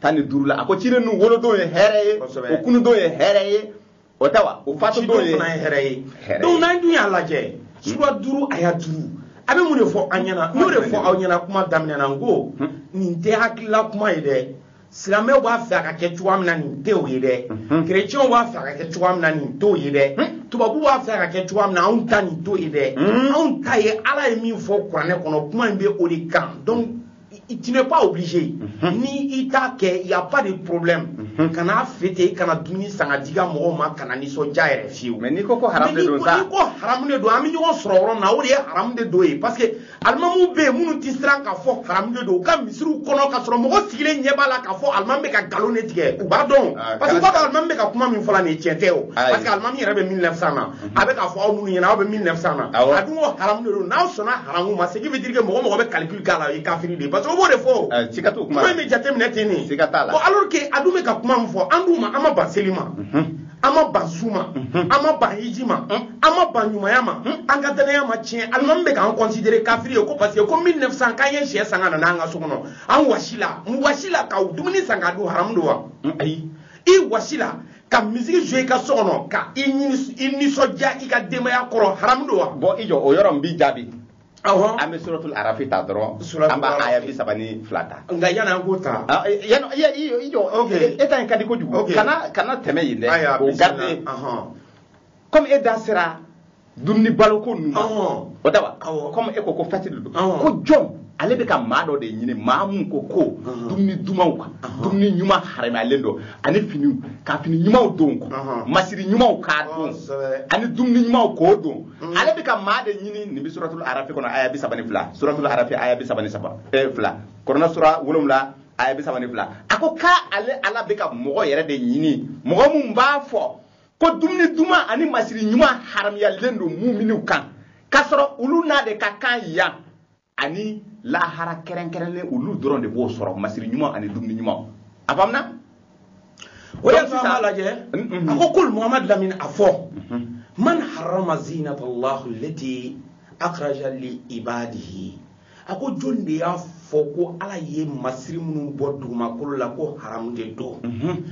tan ni duuru la a ko ciden ninnu wolodon ye hɛrɛ ye o kunudon ye hɛrɛ ye o tɛ wa o fatudon ye hɛrɛ ye donc n'an dun y'a lajɛ sura duuru aya duuru a bɛ mun de fɔ an ɲɛna n'o de fɔ aw ɲɛna kuma daminɛ na n ko nin tɛ hakilila kuma ye dɛ silamɛw b'a fɛ a ka kɛ cogoya min na nin tɛ o ye dɛ kerecɛnw b'a fɛ a ka kɛ cogoya min na nin t'o ye dɛ tubabu b'a fɛ a ka kɛ cogoya min na anw ta nin t'o ye dɛ anw ta ye ala ye min fɔ kuranɛ kɔnɔ kuma in bɛ o de kan donc tu n'es pas obligé mhm. ni i t'a kɛ y a pas de problème mhm. kana fêter kana dumuni san k'a di i ka mɔgɔw ma kana nisɔndiya yɛrɛ fiyewu mais n'i ko ko haram de don sa n'i ko haram de don an bɛ ɲɔgɔn sɔrɔ yɔrɔ min na o de ye haram de don ye parce que alimamuw bɛ yen minnu tɛ siran k'a fɔ haram de don u ka misiriw kɔnɔ k'a sɔrɔ mɔgɔ sigilen ɲɛ b'a la k'a fɔ alimamu bɛ ka nkalon de tigɛ u b'a dɔn ah, parce que u b'a dɔn alimamu bɛ ka kuma min fɔ la nin ye tiɲɛ tɛ o parce que alimamu yɛrɛ bɛ 1900 na mhm. a bɛ k'a fɔ aw minnu ɲɛna aw bɛ 1900 na a dun ko haram de don n'aw sɔnna haramu ma ce qui veut dire que mɔgɔ mɔgɔ bɛ calcul k'a la o ye kafiri de ye parce que o b'o de fɔ o Eh, siga t'o kuma kuma la. in bɛ jateminɛ ten de Siga t'a la. Bon, alors que a dun bɛ ka kuma min fɔ an dun ma an ma ban seli ma an ma ban sun ma an ma ban hiji ma an ma ban ɲumanya ma an ka danaya ma tiɲɛ alimami bɛ k'an considérer kafiri ye ko parce que ko 1900 k'an ye syɛ san ka na n'an ka so kɔnɔ an wasi la n wasi la ka dumuni san k'a dun haramu don wa Mm, ayi i wasi la ka musique jouer i ka so kɔnɔ ka i nis- i nisɔndiya i ka denbaya kɔrɔ haramu don wa bon i jɔ o yɔrɔ n b'i jaabi an bɛ suratul arafi ta dɔrɔn an b'a aya bi saba ni fila ta nka yanni an k'o ta ah, eh, yanni eh, eh, i jɔ e ta in ka di kojugu kana kana tɛmɛ yen dɛ o garde komi e da sera dumuni baloko ninnu ma o tɛ wa komi e ko ko fɛti de don ko jɔn ale bɛ ka maa dɔ de ɲini maa min ko ko dumuni dumanw kan dumuni ɲuman haramuyalen don ani finiw ka fini ɲumanw don masiri ɲumanw k'a don ani dumuni ɲumanw k'o dun mm. ale bɛ ka maa de ɲini nin bɛ suratul arafi kɔnɔ aya bi saba ni fila suratul arafi aya bi saba ni saba eh, fila kɔrɔna sura wolonwula aya bi saba ni fila a ko k'ale ala bɛ ka mɔgɔ yɛrɛ de ɲini mɔgɔ min b'a fɔ ko dumuni duman ani masiri ɲuman haramuyalen don muminiw kan k'a sɔrɔ olu n'a de ka kan yan ani lahara kɛrɛnkɛrɛnlen olu dɔrɔn de b'o sɔrɔ masiri ɲuman ani dumuni ɲuman a faamuna o y'a sɔrɔ an b'a lajɛ a ko kul muhamad lamini a fɔ man harama zinata allahu lati akhraja li ibadihi a ko jɔni de y'a fɔ ko ala ye masiri minnu bɔ dugumakolo la ko haramu de don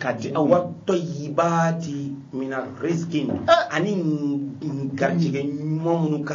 ka di aw wa tɔyibati mina riskin ani garijɛgɛ ɲuman minnu ka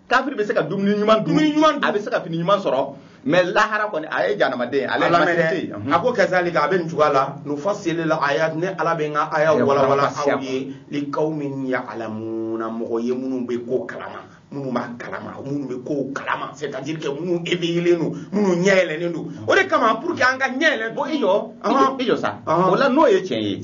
kafiri bɛ se ka dumuni ɲuman dun dumuni ɲuman dun a bɛ se ka fini ɲuman sɔrɔ mais lahara kɔni a ye janamaden ale ye masiri tɛ yen a ko kazalika a bɛ nin cogoya la nufasili la ayat ne ala bɛ n ka ayaw walawala aw ye likawmin ya'lamuna mɔgɔ ye minnu bɛ ko kalama minnu b'a kalama minnu bɛ kow kalama c'est à dire que minnu éveillelen don minnu ɲɛ yɛlɛnnen don o de kama pour que an ka ɲɛ yɛlɛ bon i jɔ i jɔ sa o la n'o ye tiɲɛ ye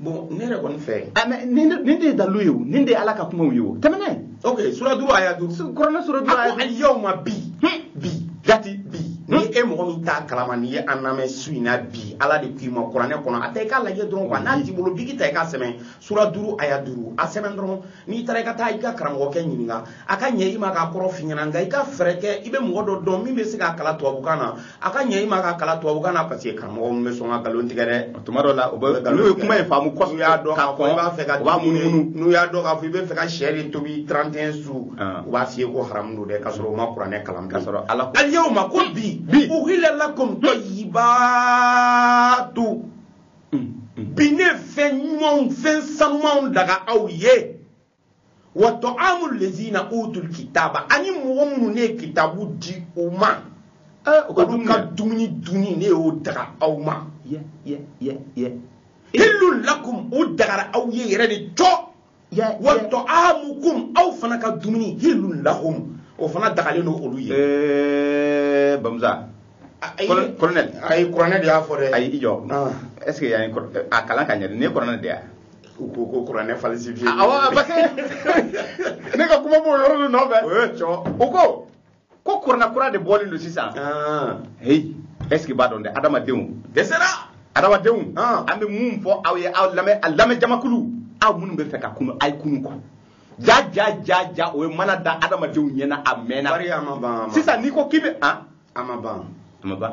bon ne yɛrɛ kɔni fɛ ah, mais nin de ye dalilu ye o nin de ye ala ka kumaw ye o tɛmɛnen ok sura duuru aya duuru kuranɛ sura duuru aya duuru alyawma bi hmm. bi jati bi ni e mɔgɔ min t'a kalama n'i ye an lamɛn su in na bi ala de k'i ma kuranɛ kɔnɔ a ta i k'a lajɛ dɔrɔn quoi n'a t'i bolo biki ta i k'a sɛbɛn sura duuru aya duuru a sɛbɛn dɔrɔn n'i taara i ka taa i ka karamɔgɔkɛ ɲininka a ka ɲɛ i ma k'a kɔrɔ f'i ɲɛna nka i ka fɛɛrɛ kɛ i bɛ mɔgɔ dɔ dɔn min bɛ se k'a kalan tubabukan na a ka ɲɛ i ma k'a kalan tubabukan na parce que karamɔgɔ min bɛ sɔn ka nkalon tigɛ dɛ tuma dɔ la u bɛ nkalon tigɛ kuma in faamu kosɛbɛ n'u y'a dɔn k'a fɔ i b'a fɛ ka u b'a munumunu n'u y'a dɔn k'a fɔ i bɛ fɛ ka sɛ de tobi 31 su ah. u b'a f'i ye ko haramu don dɛ k'a sɔrɔ u ma kuranɛ kalan k'a sɔrɔ ala ko alyawma ko bi bi uhilla lakum tayyibatu bi ne fɛn ɲumanw fɛn sanumanw daga aw ye wa ta'amu lazina utul kitaba ani mɔgɔ minnu ne ye kitabu di u ma olu ka dumuni dunni ne y'o daga aw ma hillu lakum o dagara aw ye yɛrɛ de cɔ wa ta'amukum aw fana ka dumuni hillun lahum o fana dagalen don olu ye eh, bamusa colonel ayi kuranɛ de y'a fɔ dɛ ayi i jɔ ah. est ce que yan a kalan ka ɲɛ de ne kuranɛ de y'a u ko ko kuranɛ falsifié awɔ parce que ne ka kuma b'o yɔrɔ de nɔfɛ o ye cɔ u ko ko kuranɛ kura de bɔlen don sisan ah. heyi est ce que n b'a dɔn dɛ adamadenw dɛsɛra adamadenw ah. an bɛ mun fɔ aw ye aw lamɛn a lamɛn jamakulu aw minnu bɛ fɛ ka kunu a ye kunu quoi ja ja ja ja o ye mana da adamadenw ɲɛ na a mɛnna sisan n'i ko k'i bɛ an a ma ban a ma ban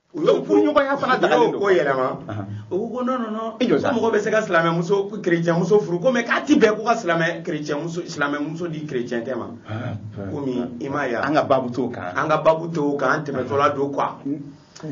u ye furuɲɔgɔnya fana dagalen don ko yɛlɛma u ko ko non non non ko mɔgɔ bɛ se ka silamɛmuso kerecɛnmuso furu ko mais k'a ti bɛn ko ka silamɛ kerecɛnmuso silamɛmuso di kerecɛncɛ ma komi i m'a ye an ka babu t'o kan an ka babu t'o kan an tɛmɛtɔla don quoi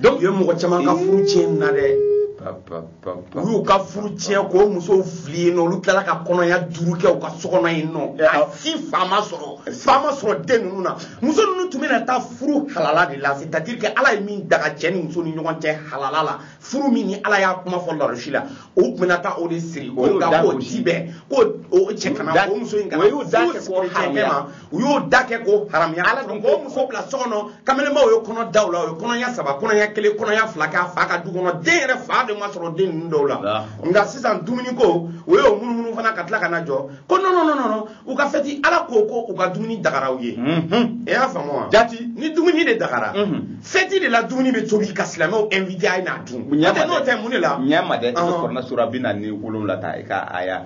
donc u ye mɔgɔ caman ka furu tiɲɛ na dɛ u y'u ka furu tiɲɛ k'o musow fili yen nɔ olu tilala ka kɔnɔya duuru kɛ u ka so kɔnɔ yen nɔ eh, a si fa ma sɔrɔ fa ma sɔrɔ den ninnu na muso ninnu tun bɛna taa furu halala de la c'est à dire que ala ye min daga cɛ ni muso ni ɲɔgɔn cɛ halala la furu min ni ala y'a kuma fɔ larosi la o tun bɛna taa o de siri nka k'o ti bɛn k'o cɛ kana o muso in kana furu siri cɛ ma u y'o da kɛ k'o haramuya ala dun k'o muso bila so kɔnɔ kamelenbaw ye kɔnɔ da u la o ye kɔnɔya saba kɔnɔya kelen kɔnɔya fila k'a fa ka du kɔnɔ den yɛrɛ fa de ma sɔrɔ den ninnu dɔw la nka sisan dumuni ko o y'o munumunu fana ka tila ka na jɔ ko non non non non non u ka fɛti ala ko ko u ka dumuni dagara u ye e y'a faamu wa jati ni dumuni de dagara fɛti de la dumuni bɛ tobi ka silamɛw invité a ye n'a dun n'o tɛ mun de la ɲɛ ma dɛ i bɛ kuranɛ sura bi naani ni wolonwula ta i ka aya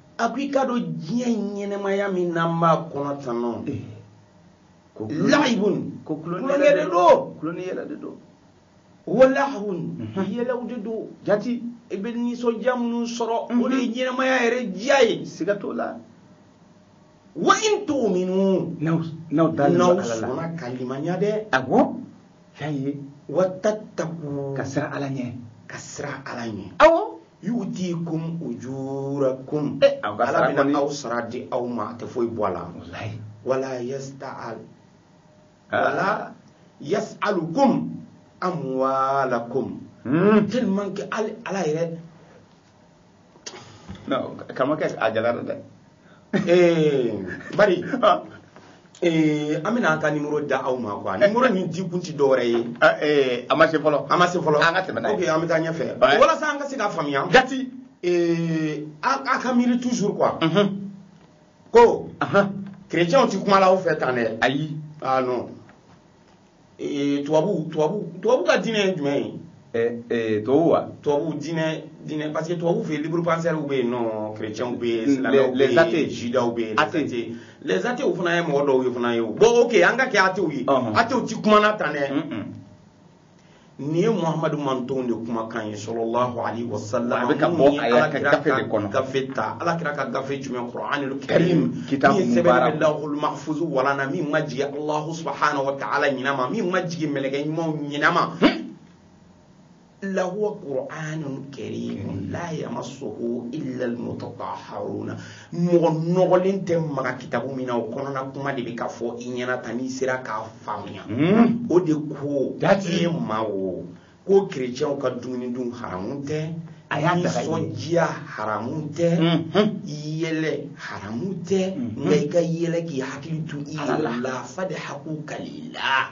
a ko i k'a dɔn diɲɛ ɲɛnɛmaya min n'an b'a kɔnɔ tan nɔ la'ibun ko tulonkɛ de don tulonkɛ yɛrɛ de don wa lahwun mhm. yɛlɛw de don jati i bɛ nisɔndiya minnu sɔrɔ o de ye mhm. ɲɛnɛmaya yɛrɛ diya ye siga t'o la wa in tu'minu n'aw da n'aw sɔnna ka limaniya dɛ awɔ y'a ye wa tattaku ka siran ala ɲɛ ka siran ala ɲɛ awɔ yu'tikum ujurakum eh, aw ka ala sara bɛna kɔni aw sara di aw ma a tɛ foyi bɔ a la walayi wala yas'al Ah. wala yas'alukum amwalakum Hmm. tellement que al- ala yɛrɛ non karamɔgɔkɛ a gɛlɛyara dɛ eh, bari ah. eh, an bɛna an ka nimoro da aw ma quoi nimoro nin di kun ti dɔwɛrɛ ye ah, eh, a ma se fɔlɔ a ma se fɔlɔ an ka tɛmɛ n'a ye ok an bɛ taa ɲɛfɛ walasa an ka se k'a faamuya jati a ka miiri toujours quoi mhm. ko chrétienw ti kuma la aw fɛ tan dɛ ayi ah non ee tubabu tubabu tubabu ka diinɛ ye jumɛn ye eh, eh, tubabu wa tubabu diinɛ diinɛ parce que tubabu fɛ yen libre penseurs bɛ yen non chrétiens bɛ yen silamɛw bɛ yen judaw bɛ yen athées les athées fana ye mɔgɔ dɔw ye fana ye o bon ok an ka kɛ athées ye athées ti kuma na tan dɛ nin ye muhamadu mantonw de kumakan ye sɔlɔlahu alayhi wa sallam a bɛ ka bɔ a yɛrɛ ka gafe de kɔnɔ gafe ta ala kira ka gafe jumɛn kuranil karim kitabu min sɛbɛnnen bɛ lawhul mahfuzu walan na min ma jigin alahu subahana wa taala ɲinɛ ma min ma jigin mɛlɛkɛ ɲumanw ɲinɛ ma lahuwa kuranil karim la yamasuhu illa almutataharuna mɔgɔ nɔgɔlen tɛ maga kitabu min na o kɔnɔna kuma de bɛ ka fɔ i ɲɛna tan n'i sera k'a faamuya hmm. o de ko e ma o ko kerecɛnw ka dumuni dun haramu tɛ ayi nisɔndiya haramu tɛ hmm. yɛlɛ haramu tɛ hmm. nka i ka yɛlɛ k'i hakili to i yɛrɛ la fadhaku kalila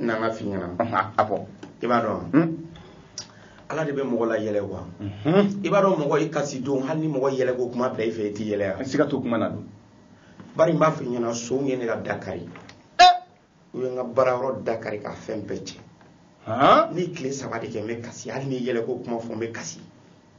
na n k'a f'i ɲɛna a fɔ i b'a dɔn hmm? ala de bɛ mɔgɔ layɛlɛ quoi hmm? i b'a dɔn mɔgɔ i kasi don hali ni mɔgɔ yɛlɛko kuma bila i fɛ i tɛ yɛlɛ yan siga t'o kuma na don bari n b'a f'i ɲɛna sonw ye ne ka da kari eh! u ye n ka baarayɔrɔ da kari k'a fɛn bɛɛ cɛ ne ye tile saba de kɛ n bɛ kasi hali ni yɛlɛko kuma fɔ n bɛ kasi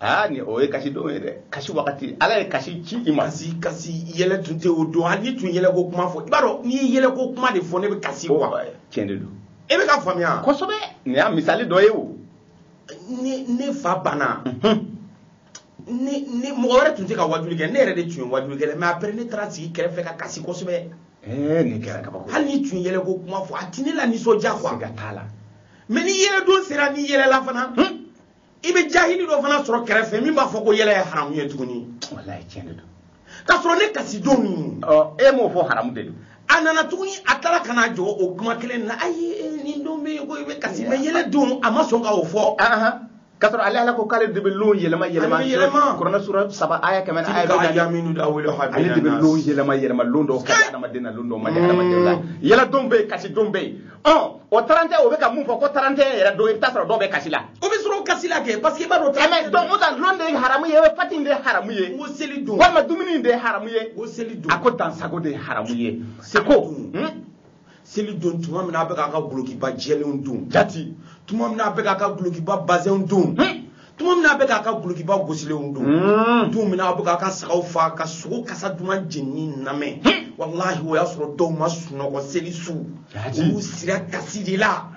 aa ni o ye kasi don ye dɛ kasi wagati ala ye kasi ci i ma kasi kasi yɛlɛ tun tɛ o don hali n'i tun ye yɛlɛ ko kuma fɔ i b'a dɔn n'i ye yɛlɛ ko kuma de fɔ ne bɛ kasi quoi tiɲɛ de don e bɛ k'a faamuya kosɛbɛ nin y'a misali dɔ ye o ne ne fa banna mhm. ne ne mɔgɔ wɛrɛ tun tɛ ka wajuli kɛ ne yɛrɛ de tun ye wajuli kɛ mais après ne taara sigi kɛrɛfɛ ka kasi kosɛbɛ eh, nin kɛra kabako hali n'i tun ye yɛlɛ ko kuma fɔ a tɛ ne lanisɔndiya quoi siga t'a la mais ni yɛlɛ don sera ne yɛlɛla fana hmm? i bɛ jahili dɔ fana sɔrɔ kɛrɛfɛ min b'a fɔ ko yɛlɛ ye haramu ye tuguni walayi tiɲɛ de don k'a sɔrɔ ne kasi don min e m'o fɔ haramu de don a nana tuguni a taara ka na jɔ o kuma kelen na ayi e, nin don bɛ yen ko i bɛ kasi mais yɛlɛ don a ma sɔn ka o fɔ k'a sɔrɔ ale ala ko k'ale de bɛ lon yɛlɛma yɛlɛma yɛlɛma kuranɛ sura saba aya kɛmɛ ni aya bi naani nudawilu ale de bɛ lon yɛlɛma yɛlɛma lon dɔw ka di adamaden na lon dɔw man di adamaden na yɛlɛ don bɛ yen kasi don bɛ yen ɔ o tarantɛ o bɛ ka mun fɔ ko tarantɛ yɛrɛ don i bɛ taa sɔrɔ dɔw bɛ kasi la o bɛ sɔrɔ kasi la kɛ parce que i b'a dɔn tarantɛ donc o ta lon de ye haramu ye pati de ye haramu ye n ko seli don walima dumuni de ye haramu ye n ko seli don a ko dansago de ye haramu ye seko hmm? seli don tuma min na a bɛ k'a ka gulokiba jɛlenw don jati tuma min na a bɛ k'a ka gulokiba bazɛnw don hmm? tuma min na a bɛ k'a ka gulokiba gosilenw don hmm. don min na a bɛ k'a ka sagaw faa ka sogo kasa duman jenini lamɛn hmm. walahi o y'a sɔrɔ dɔw ma sunɔgɔ seli su olu sira kasi de la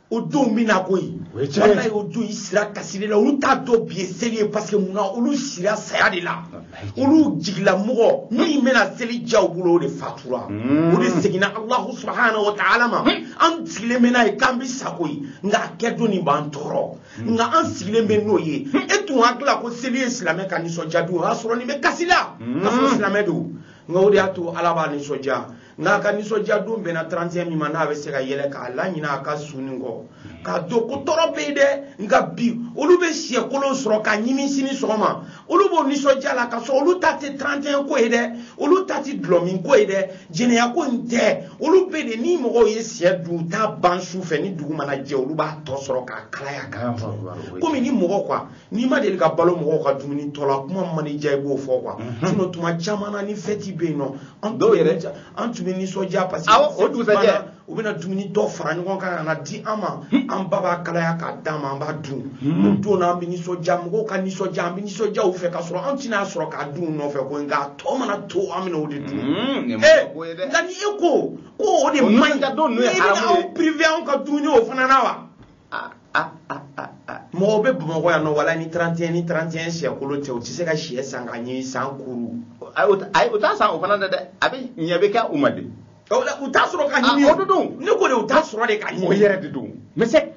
o don min na koyi walayi o don i sira kasi de la olu t'a dɔn bi ye seli ye parce que mun na olu sira saya de la olu jigilamɔgɔ min bɛna seli diya u bolo o de fatura hmm. o de seginna alahu subahanahu wa taala ma an sigilen bɛ n'a ye k'an bɛ sa koyi nka a kɛ don nin b'an tɔɔrɔ hmm. nka an sigilen bɛ n'o ye hmm. e tun hakili la ko seli ye silamɛ ka nisɔndiya don o y'a sɔrɔ nin bɛ kasi la hmm. k'a sɔrɔ silamɛ don nka o de y'a to ala b'a nisɔndiya nka a ka nisɔndiya don bɛnna 31 min ma n'a bɛ se ka yɛlɛ k'a laɲinɛ a ka su nin kɔ k'a dɔn ko tɔɔrɔ bɛ yen dɛ nka bi olu bɛ siyɛkolon sɔrɔ ka ɲimi sini sɔgɔma olu b'o nisɔndiya la k'a sɔrɔ olu ta tɛ 31 ko ye dɛ olu ta tɛ dulɔmin ko ye dɛ jɛnɛya ko in tɛ olu bɛ de ni mɔgɔw ye siyɛ dun u t'a ban su fɛ ni dugu mana jɛ olu b'a tɔ sɔrɔ k'a kalaya k'a dun komi ni mɔgɔ quoi n'i ma deli ka balo mɔgɔw ka dumuni tɔ la kuma mana diya i b'o fɔ quoi mhm. sinon tuma caman na ni fɛti bɛ yen nɔ an dɔw yɛrɛ an tun bɛ nisɔndiya parce que o dugusajɛ u bɛna dumuni tɔ fara ɲɔgɔn kan ka n'a di an ma hmm. an ba b'a kalaya k'a d'an ma an b'a dun hmm. o don na an bɛ nisɔndiya mɔgɔw ka nisɔndiya an bɛ nisɔndiya u fɛ k'a sɔrɔ an tɛn'a sɔrɔ k'a dun u nɔfɛ koyi nka a tɔ mana to an bɛna o de dun hmm, eh, nka ni e ko ko o de man ɲi i bɛna anw priver anw ka dumuni o fana na wa ah, ah, ah, ah, ah. mɔgɔw bɛ bamakɔ yan nɔ wala ni 31 ni 31 siyɛkolo tɛ u tɛ se ka siyɛ san ka ɲimi san kuru ayi o t'a san o fana dɛ dɛ a bɛ ɲɛ bɛ kɛ u ma de u t'a sɔrɔ ka ɲimi o don ne ko de u t'a sɔrɔ de ka ɲimi o yɛrɛ de don mais c'est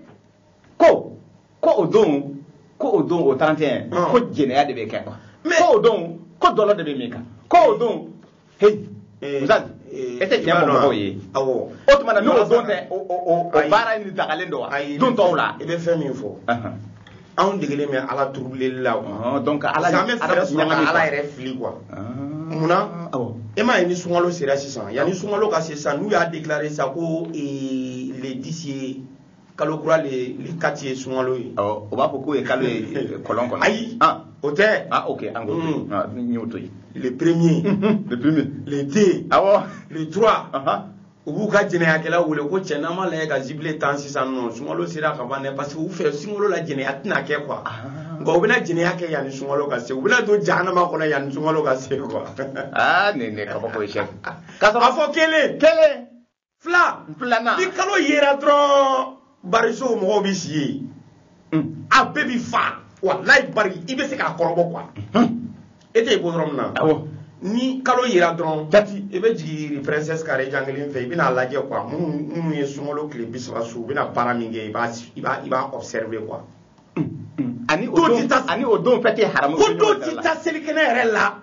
ko ko o don ko o don o 31 ko jɛnɛya de bɛ kɛ quoi ko o don ko dɔlɔ de bɛ min quoi ko o don heyi eh, misali eh, e tɛ tiɲɛ fɔ mɔgɔw ye awɔ o tuma na n'o don tɛ o o o baara in dagalen don wa don tɔw la i bɛ fɛn min fɔ anw degelen bɛ ala troubleli la ah, donc ala an bɛ fɛɛrɛ sɔrɔ ka ala yɛrɛ fili quoi ah. munna e m'a ye ni sunkalo sera sisan yanni sunkalo ka se sisan n'u y'a déclarer sisan ko eh, le 10 ye kalo kura le le quatre ye sunkalo ye. awɔ o b'a fɔ k'o ye kalo ye kɔlɔn kɔnɔ. ayi o tɛ. ah ok an ko n y'o to yen. le premier. le premier. le deux. awɔ. le trois. u b'u ka jɛnɛyakɛlaw wele ko cɛ n'an ma lajɛ ka jubiler tan sisan nɔ sunkalo sera ka ban dɛ parce que u fɛ sunkalo la jɛnɛya tɛna kɛ quoi. nka u bɛna jɛnɛya kɛ yanni sunkalo ka se u bɛna don jahanama kɔnɔ yanni sunkalo ka se quoi. aa nin nin kabako ye sɛ. k'a sɔrɔ a fɔ kelen. kelen. fila filanan ni kalo yera dɔrɔn barisow mɔgɔw bɛ si yen hmm. a bɛɛ bɛ fa walayi bari i bɛ se k'a kɔrɔbɔ quoi hmm. e tɛ bɔ yɔrɔ min na ni kalo yera dɔrɔn jati i bɛ jigin princesse kare jan kelen fɛ i bɛna lajɛ quoi minnu minnu ye sunkalo tile bi saba sun u bɛna baara min kɛ i b'a i b'a i b'a observer quoi. Hmm. ani o don ani o don fɛn tɛ haramu. ko don ti taa selikɛnɛ yɛrɛ la.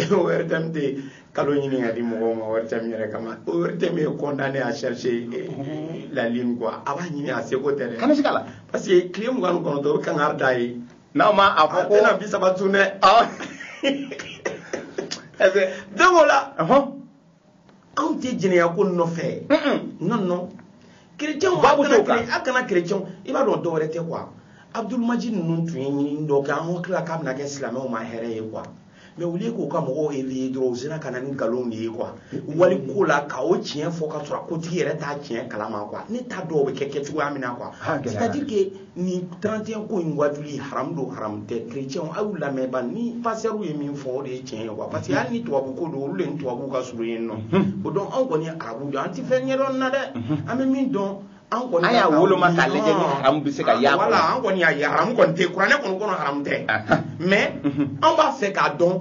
ORTM tɛ kalo ɲini ka di mɔgɔw ma ORTM yɛrɛ kama ORTM est condamné à chercher la lune quoi a b'a ɲini a seko tɛ dɛ kana siga la parce que tile mugan ni kɔnɔntɔn o bɛ kangari da yen aw ma a fɔ ko a tɛna bi saba tun dɛ donc o la anw tɛ jɛnɛya ko nɔfɛ non non chrétien a kana a kana chrétien i b'a dɔn dɔwɛrɛ tɛ quoi abdulmajid ninnu tun ye ɲinini dɔ kɛ an hakili la k'a bɛna kɛ silamɛw ma hɛrɛ ye quoi mais au lieu k'u ka mɔgɔw éveiller dɔrɔn u sera ka na ni nkalon de ye quoi wali ko la ka o tiɲɛ fɔ ka sɔrɔ a kotigi yɛrɛ t'a tiɲɛ kalama quoi ne t'a dɔn o bɛ kɛ kɛcogoya min na quoi c'est à dire que ni 31 ko in wajuli haram don haram tɛ chrétiens a y'u lamɛn ba ni pasteur ye min fɔ o de ye tiɲɛ ye quoi parce que hali ni tubabu ko don olu de ni tubabu ka surun yen nɔ mhm. o donc anw kɔni ye arabu don an tɛ fɛn ɲɛdɔn na dɛ mhm. an bɛ min dɔn an kɔni an y'a woloma k'a lajɛ ni haramu bɛ se ka y'a kɔnɔ voilà an kɔni y'a ye haramu kɔni tɛ kuranɛ kɔni kɔnɔ haramu tɛ mais mhm. an b'a fɛ k'a dɔn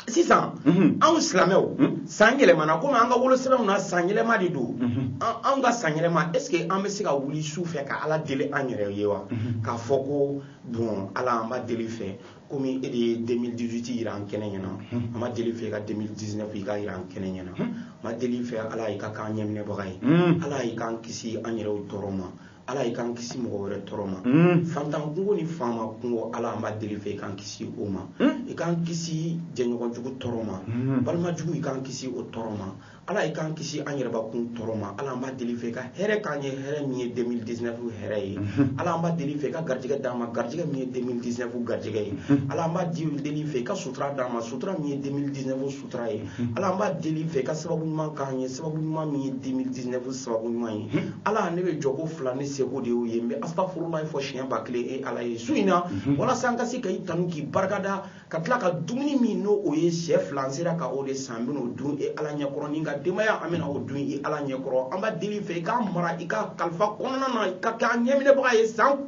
sisan mhm. anw silamɛw mhm. san yɛlɛmana komi an ka wolosɛbɛnw na san yɛlɛma de don mhm. anw ka san yɛlɛma est ce que an bɛ se ka wuli su fɛ ka ala deli an yɛrɛ ye wa k'a fɔ ko bon ala an b'a deli fɛ komi e de ye 2018 yira an kɛnɛ ɲɛna an b'a deli fɛ ka 2019 i ka yira an kɛnɛ ɲɛna an b'a deli fɛ ala i ka k'an ɲɛminɛbaga ye ala i k'an kisi an yɛrɛw tɔɔrɔ ma ala i k'an kisi mɔgɔ wɛrɛ tɔɔrɔ ma hmm. fantan kungo ni faama kungo ala an b'a deli fɛ i k'an kisi o ma hmm. i k'an kisi jɛɲɔgɔn jugu tɔɔrɔ ma hmm. balima jugu i k'an kisi o tɔɔrɔ ma ala i k'an kisi an yɛrɛbakun tɔɔrɔ ma ala an b'a deli fɛ i ka hɛrɛ k'an ye hɛrɛ min ye 2019 hɛrɛ ye ala an b'a deli fɛ i ka garijɛgɛ d'an ma garijɛgɛ min ye 2019 garijɛgɛ ye ala an b'a deli fɛ i ka sutura d'an ma sutura min ye 2019 sutura ye ala an b'a deli fɛ i ka sababu ɲuman k'an ye sababu ɲuman min ye 2019 sababu ɲuman ye ala ne bɛ jɔ ko fila ni seko de y'o ye n bɛ astafurulayi fɔ siɲɛ ba kelen e ala ye su in na walasa an ka se ka i tanu k'i barikada ka tila ka dumuni min n'o o ye sɛ fila n sera ka o de san n bɛn'o dun e ala ɲɛkɔrɔ ni n ka denbaya an bɛna o dun i ala ɲɛkɔrɔ an b'a deli fɛ i k'an mara i ka kalifa kɔnɔna na i ka kɛ an ɲɛminɛbaga ye san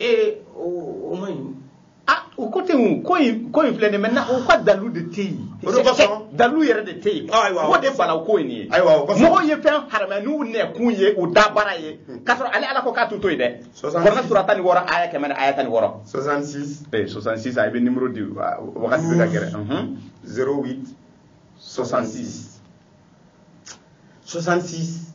ee o man ɲi ah o ko tɛ yen ko in ko in filɛ nin maintenant o ka dalu de tɛ yen o de kosɔn dalu yɛrɛ de tɛ yen ayiwa o de bala o ko in ye ayiwa o kosɔn mɔgɔw ye fɛn haramɛ n'u nɛkun ye u da baara ye k'a sɔrɔ ale ala ko k'a t'u to yen dɛ kuranɛ sura tan ni wɔɔrɔ aya kɛmɛ ni aya tan ni wɔɔrɔ 66 ee 66 a bɛ nimoro di wagati bɛ ka gɛrɛ 08 66 66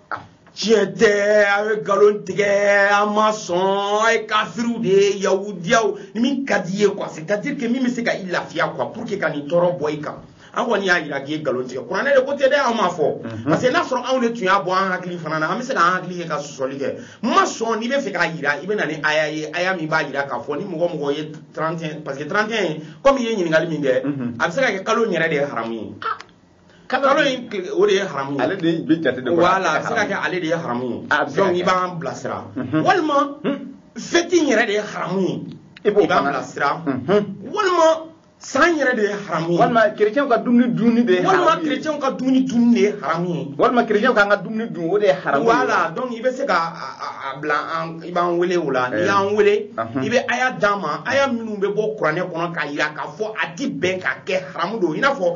tiɲɛ tɛ aw ye nkalon tigɛ an ma sɔn a ye kafiriw de ye yahudiyaw ni min ka di i ye quoi c'est à dire que min bɛ se ka i lafiya quoi pour que ka nin tɔɔrɔ bɔ i kan an kɔni y'a jira k'i ye nkalon tigɛ kuranɛ de ko tɛ dɛ an m'a fɔ mhm. parce que n'a sɔrɔ anw de tun y'a bɔ an hakili fana na an bɛ se k'an hakili kɛ ka sɔsɔli kɛ n ma sɔn n'i bɛ fɛ k'a jira i bɛ na ni aya ye aya min b'a jira k'a fɔ ni mɔgɔ mɔgɔ ye 31 parce que 31 komi i ye ɲininkali min kɛ mhm. a bɛ se ka kɛ kalo in yɛrɛ de ye haramu ye ah! kalo in o de ye haramu ye ale de bɛ jate de voilà a bɛ se ka kɛ ale de ye haramu ye ah, donc i b'an bilasira mhm. walima hmm? feti in yɛrɛ de ye haramu ye i b'an bilasira mhm. walima san yɛrɛ de ye haramu ye walima kerecɛnw ka dumuni dunni de ye haramu walima kerecɛnw ka dumuni dunni de ye haramu ye walima kerecɛnw k'an ka dumuni dun o de ye haramu ye voilà donc i bɛ se ka a bila an i b'an wele o la n'i eh. y'an wele mhm. i bɛ aya d'an ma aya minnu bɛ bɔ kuranɛ kɔnɔ k'a jira k'a fɔ a ti bɛn ka kɛ haramu don i n'a fɔ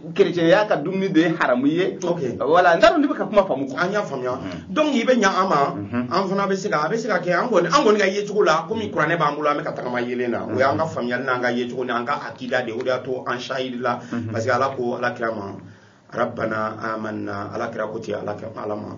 kerecɛnya ka dumuni de ye haramu ye voilà n t'a dɔn n'i bɛ n ka kuma faamu an y'a faamuya mm-hmm. donc i bɛ ɲa an ma mm-hmm. an fana bɛ se ka a bɛ se ka kɛ an kɔni an kɔni ka yecogo la komi mm-hmm. kuranɛ b'an bolo an bɛ ka tagama yeelen na o y'an ka faamuyali n'an ka yecogo ni an ka akida de o de y'a to an sahidi la parce que ala ko ala kira ma rabbana amanna ala kira ko ten ala kira ala ma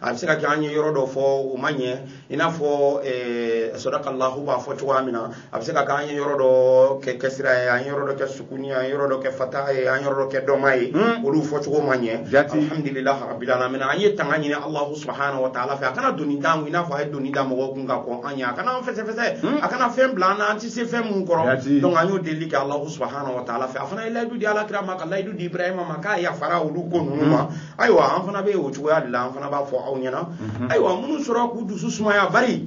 a bɛ se ka kɛ an ye yɔrɔ dɔ fɔ o ma ɲɛ i n'a fɔ eh, sɔdakalahu b'a fɔ cogoya min na a bɛ se ka kɛ an ye yɔrɔ dɔ kɛ kɛsira ye an ye yɔrɔ dɔ kɛ sukuni ye an ye yɔrɔ dɔ kɛ fataha ye an ye yɔrɔ dɔ kɛ dɔma ye hmm. olu fɔcogo ma ɲɛ alhamdulillah rabbil alamin an ye tanga ɲini alahu subahana wa taala fɛ a kana doni d'an kun i n'a fɔ a ye doni da mɔgɔw kun ka kɔn an ye a kana an fɛsɛfɛsɛ hmm. a kana fɛn bila an na an tɛ se fɛn minnu kɔrɔ donc an y'o deli kɛ alahu subahana wa taala fɛ a fana ye layidu di ala kira ma ka layidu di ibrahima ma k'a yafara olu ko ninnu ma hmm. ayiwa an fana bɛ o cogoya de la an fana b'a fɔ aw ɲɛna ayiwa minnu sɔrɔ k'u dusu sumaya bari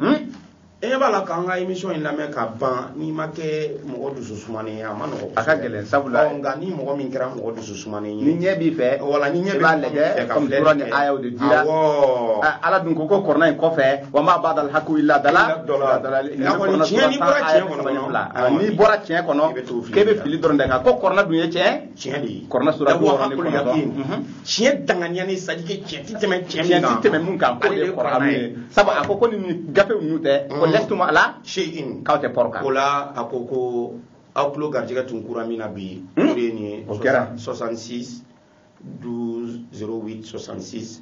e ɲɛ b'a la k'an ka émission in lamɛn ka ban n'i ma kɛ mɔgɔ dusu sumanen ye a man nɔgɔ a ka gɛlɛn sabula ɔ, nka ni mɔgɔ min kɛra mɔgɔ dusu sumanen ni ye ɲɛ b'i fɛ wala ni ɲɛ i b'a lajɛ ka komi filɛli sura ni kɛ. ayaw de dira Awɔ. Ah, ala dun ko ko kɔrɔna in kɔfɛ wa ma badal haku illa dala Illa dala. Dala- Nin N'a kɔni kɔrɔna tiɲɛ, n'i sura bɔra tan tiɲɛ ayat kɔnɔ saba ni dɔrɔn, fila. Ah, awɔ, n'i bɔra tiɲɛ kɔnɔ i bɛ taa fili k'e bɛ de la. fili dɔrɔn de kan ko kɔrɔna dun ye tiɲɛ tiɲɛ de ye kɔrɔna sura bi wɔɔrɔ ni kɔnɔntɔn mhm. tiɲɛ danganiya ni sadike tiɲɛ ti tɛmɛ tiɲɛ min kan ti tɛmɛ mun kan k'o de ye kɔrɔna ye sabu a ko ko ni gafe ninnu tɛ mhm. ko lɛsitum ala shayin k'aw tɛ pɔrɔ kan o la a ko ko aw tulo garijɛgɛ tun kɛra min na bi hmm? o de ye nin ye o kɛra 66 12 08 66